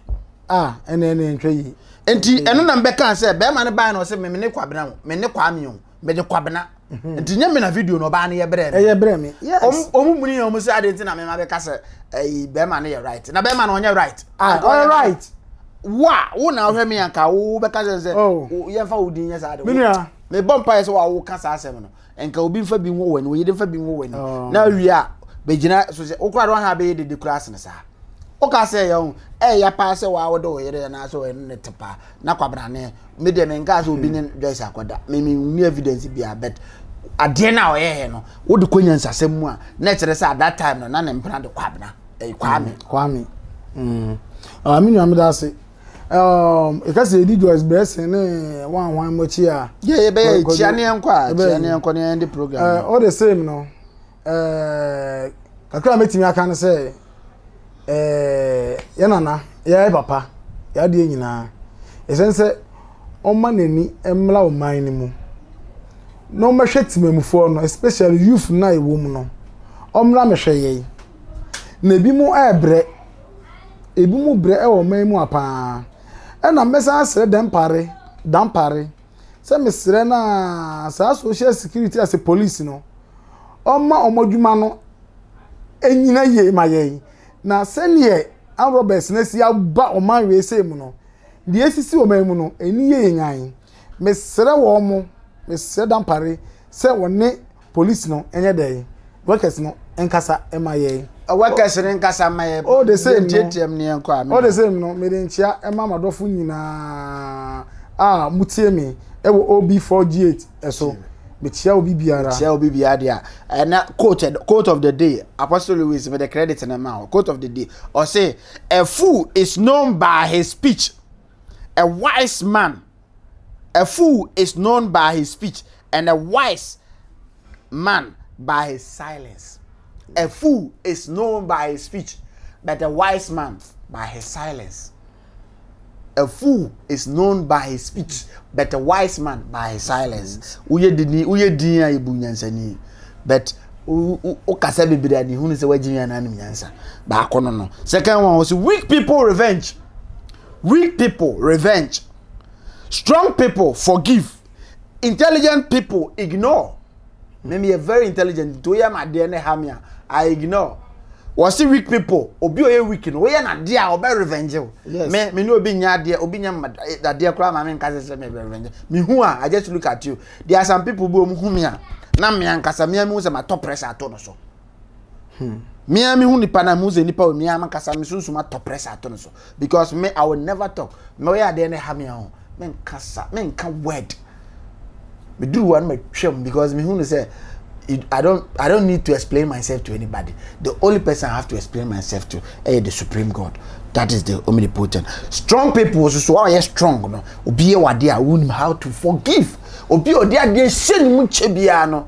a ɛna ɛna ntwa yi nti ɛno na mbɛka sɛ bɛrima no baa na ɔsɛ mɛ mene kwabena o mene kwame o mede kwabena mhm. nti nyɛ me na video no ɔbaa no yɛ brɛ ɛyɛ brɛ me yes ɔmo muni ɔmo sɛ ade nti na mema bɛka sɛ ɛyi bɛrima no yɛ right na bɛrima no ɔnyɛ right ah ɔyɛ right wo a wo na ɔhwɛ me anka wo bɛka sɛ sɛ oh. yɛmfa wo din nyɛ saa de menua mebɔ mpa yɛ sɛ wa wo ka saa asɛm no nka obi nfa bi nwo w'ani oyere nfa bi nwo w'ani oh. na awie a bɛgyina so sɛ wokora de waha bɛyɛ dede kura asene saa woka sɛ yɛ ho ɛyɛ paa sɛ waa wode oyere yɛ naa sɛ ɔyɛ ne te paa na kwabrane me deɛ menkaa sɛ obi ne hmm. joyce akɔda me menni evidence bia but adeɛ no a ɔyɛɛ no wode kɔ nyansasɛm mu a na ɛkyerɛ sɛ at that time no na ne mpena de kwabena ɛyɛ hmm. kwame kwame hmm. ah, me nua meda ase ɛka sɛ ɛdi joyce brɛsen ne wanwan mɔkyi a yɛbɛyɛ kyia ne ɛnkɔ a kyia ne ɛnkɔ ne ɛnde program ɔde eh, same no Eh, kakra a mɛtumi aka no sɛ eh, yɛ nana yɛyɛ papa yɛ adeɛ nyinaa ɛsɛne sɛ ɔma n'ani mmra wo man no mu na ɔmɛhwɛ timamufoɔ no especially youth no a ɛwɔ mu no ɔmmra mɛhwɛ yɛi na ebi mu ɛbrɛ ebi mu brɛ ɛwɔ man mu a paa ɛna mɛsan asrɛ dɛmpare dampare sɛ mesrɛ no a saa social security ase police no ɔma wɔn adwuma no nyina yie ma yɛn na sɛdeɛ arobɛs no asi aba ɔman wei sɛ mu no deɛ asisi ɔman mu no ɛni yɛ yɛn nyan mesrɛ wɔn mo mesrɛ dampare sɛ wɔne police no nyɛ dɛn workers no nkasa ma yɛn. Workers no nkasa mma yɛn. All the same no yɛnteateam ne yɛnkɔ amena. All the same no mede nkyea ɛma m'adɔfo nyinaa a motie me ɛwɔ OB 4G8 ɛso. Mekyea obi biara. Mekyea obi biara deɛ a. Ɛna quote, quote of the day, Apostle Louis mede credit no ma wo. Quote of the day, ɔse, a fool is known by his speech, a wise man A fool is known by his speech, and a wise man by his silence. A fool is known by his speech, but a wise man by his silence. A fool is known by his speech, but a wise man by his silence. Woyɛ dini, woyɛ din a ebu nyansani, but wokasa bebree a ne hunu sɛ wagye nyansa no nyansa. Baako no no. Second one was weak people revenge. Weak people revenge, strong people forgive, intelligent people ignore. Me me yɛ very intelligent nti woyɛ ma adeɛ ne ha me a I ignore. Wɔsi weak people obi oyɛ weak no woyɛ na adeɛ a ɔbɛ revenge o. Yes. Me me ne obi nyɛ adeɛ obi nyɛ ma eh, adeɛ koraa ma me nka sɛ sɛ me bɛ revenge. Me hu a I just look at you. There are some people bi wɔn hu me a na me ankasa me a me hu sɛ ma tɔ pressure ato no so. Hmm. Me ara mehu nipa na mehu sɛ nipa wɔ me ara mankasa me sunsum atɔ press ato no so because me I will never talk me ɔyɛ adeɛ no ha me ho menka sa menka word meduru hɔ no matwam because mehu no sɛ I don't I don't need to explain myself to anybody. The only person I have to explain myself to eh, the supreme God. That is the omnipotent. Strong people so so are strong no. Obi e wade a how to forgive. Obi odi ade hye ne mu che bia no.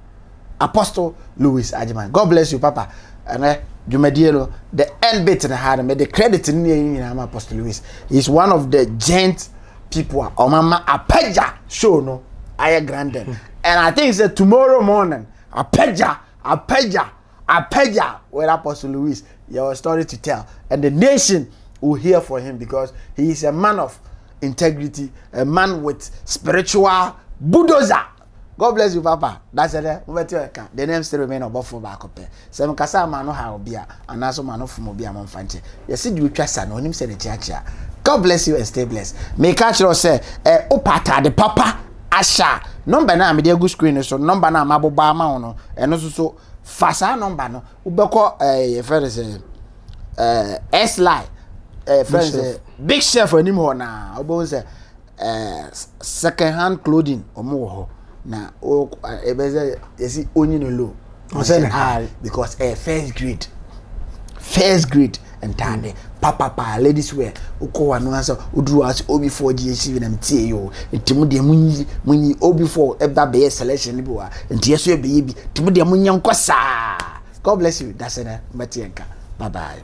Apostle Louis Agyemang. God bless you, Papa. Ɛnɛ, dwumadie no, the end bit na ha no, me de credit no ne nyinaa ma Apostle Louis. He is one of the gent people a ɔmama apagya show no ayɛ grandin. Hmm. And I think sɛ tomorrow morning, apagya, apagya, apagya with Apostle Louis, your story to tell. And the nation will hear for him because he is a man of integrity, a man with spiritual bulldozer. God bless you papa dahyɛ dɛ mobɛte ɛka the name still remain ɔbɔfoɔ baako pɛ sɛ mekasa ama ano ha obi a anaa so ma ano fom obi a momfa nkyɛ yɛse deɛ otwa sa no onim sɛ ne kyeakyea God bless you and stay blessed meka kyerɛ sɛ ɛ wopɛ ataade papa ahyɛ a nɔmba no a mede agu screen no so nɔmba no a mabobɔ ama wo no ɛno nso so fa saa nɔmba no wobɛkɔ ɛɛ yɛfrɛ no sɛ ɛɛ S-line ɛɛ frɛ no sɛ big chef anim hɔ naa wobɛhu sɛ second hand clothing wɔn wɔ hɔ na o ɛbɛ sɛ yɛsi onyi no low ɔsɛ ne ha because ɛyɛ first grade first grade ntaade papa paa ladies wear wokɔ wa no asɛ woduru ase obi four gye esi bi na tie yi o nti mo deɛ mo nyi mo nyi obi four ɛba bɛyɛ selection no bi wa nti yɛso ɛbɛyɛ bi nti mo deɛ mo nyɛ nkɔ saa god bless you dasɛ na mbɛte yɛn ka bye bye.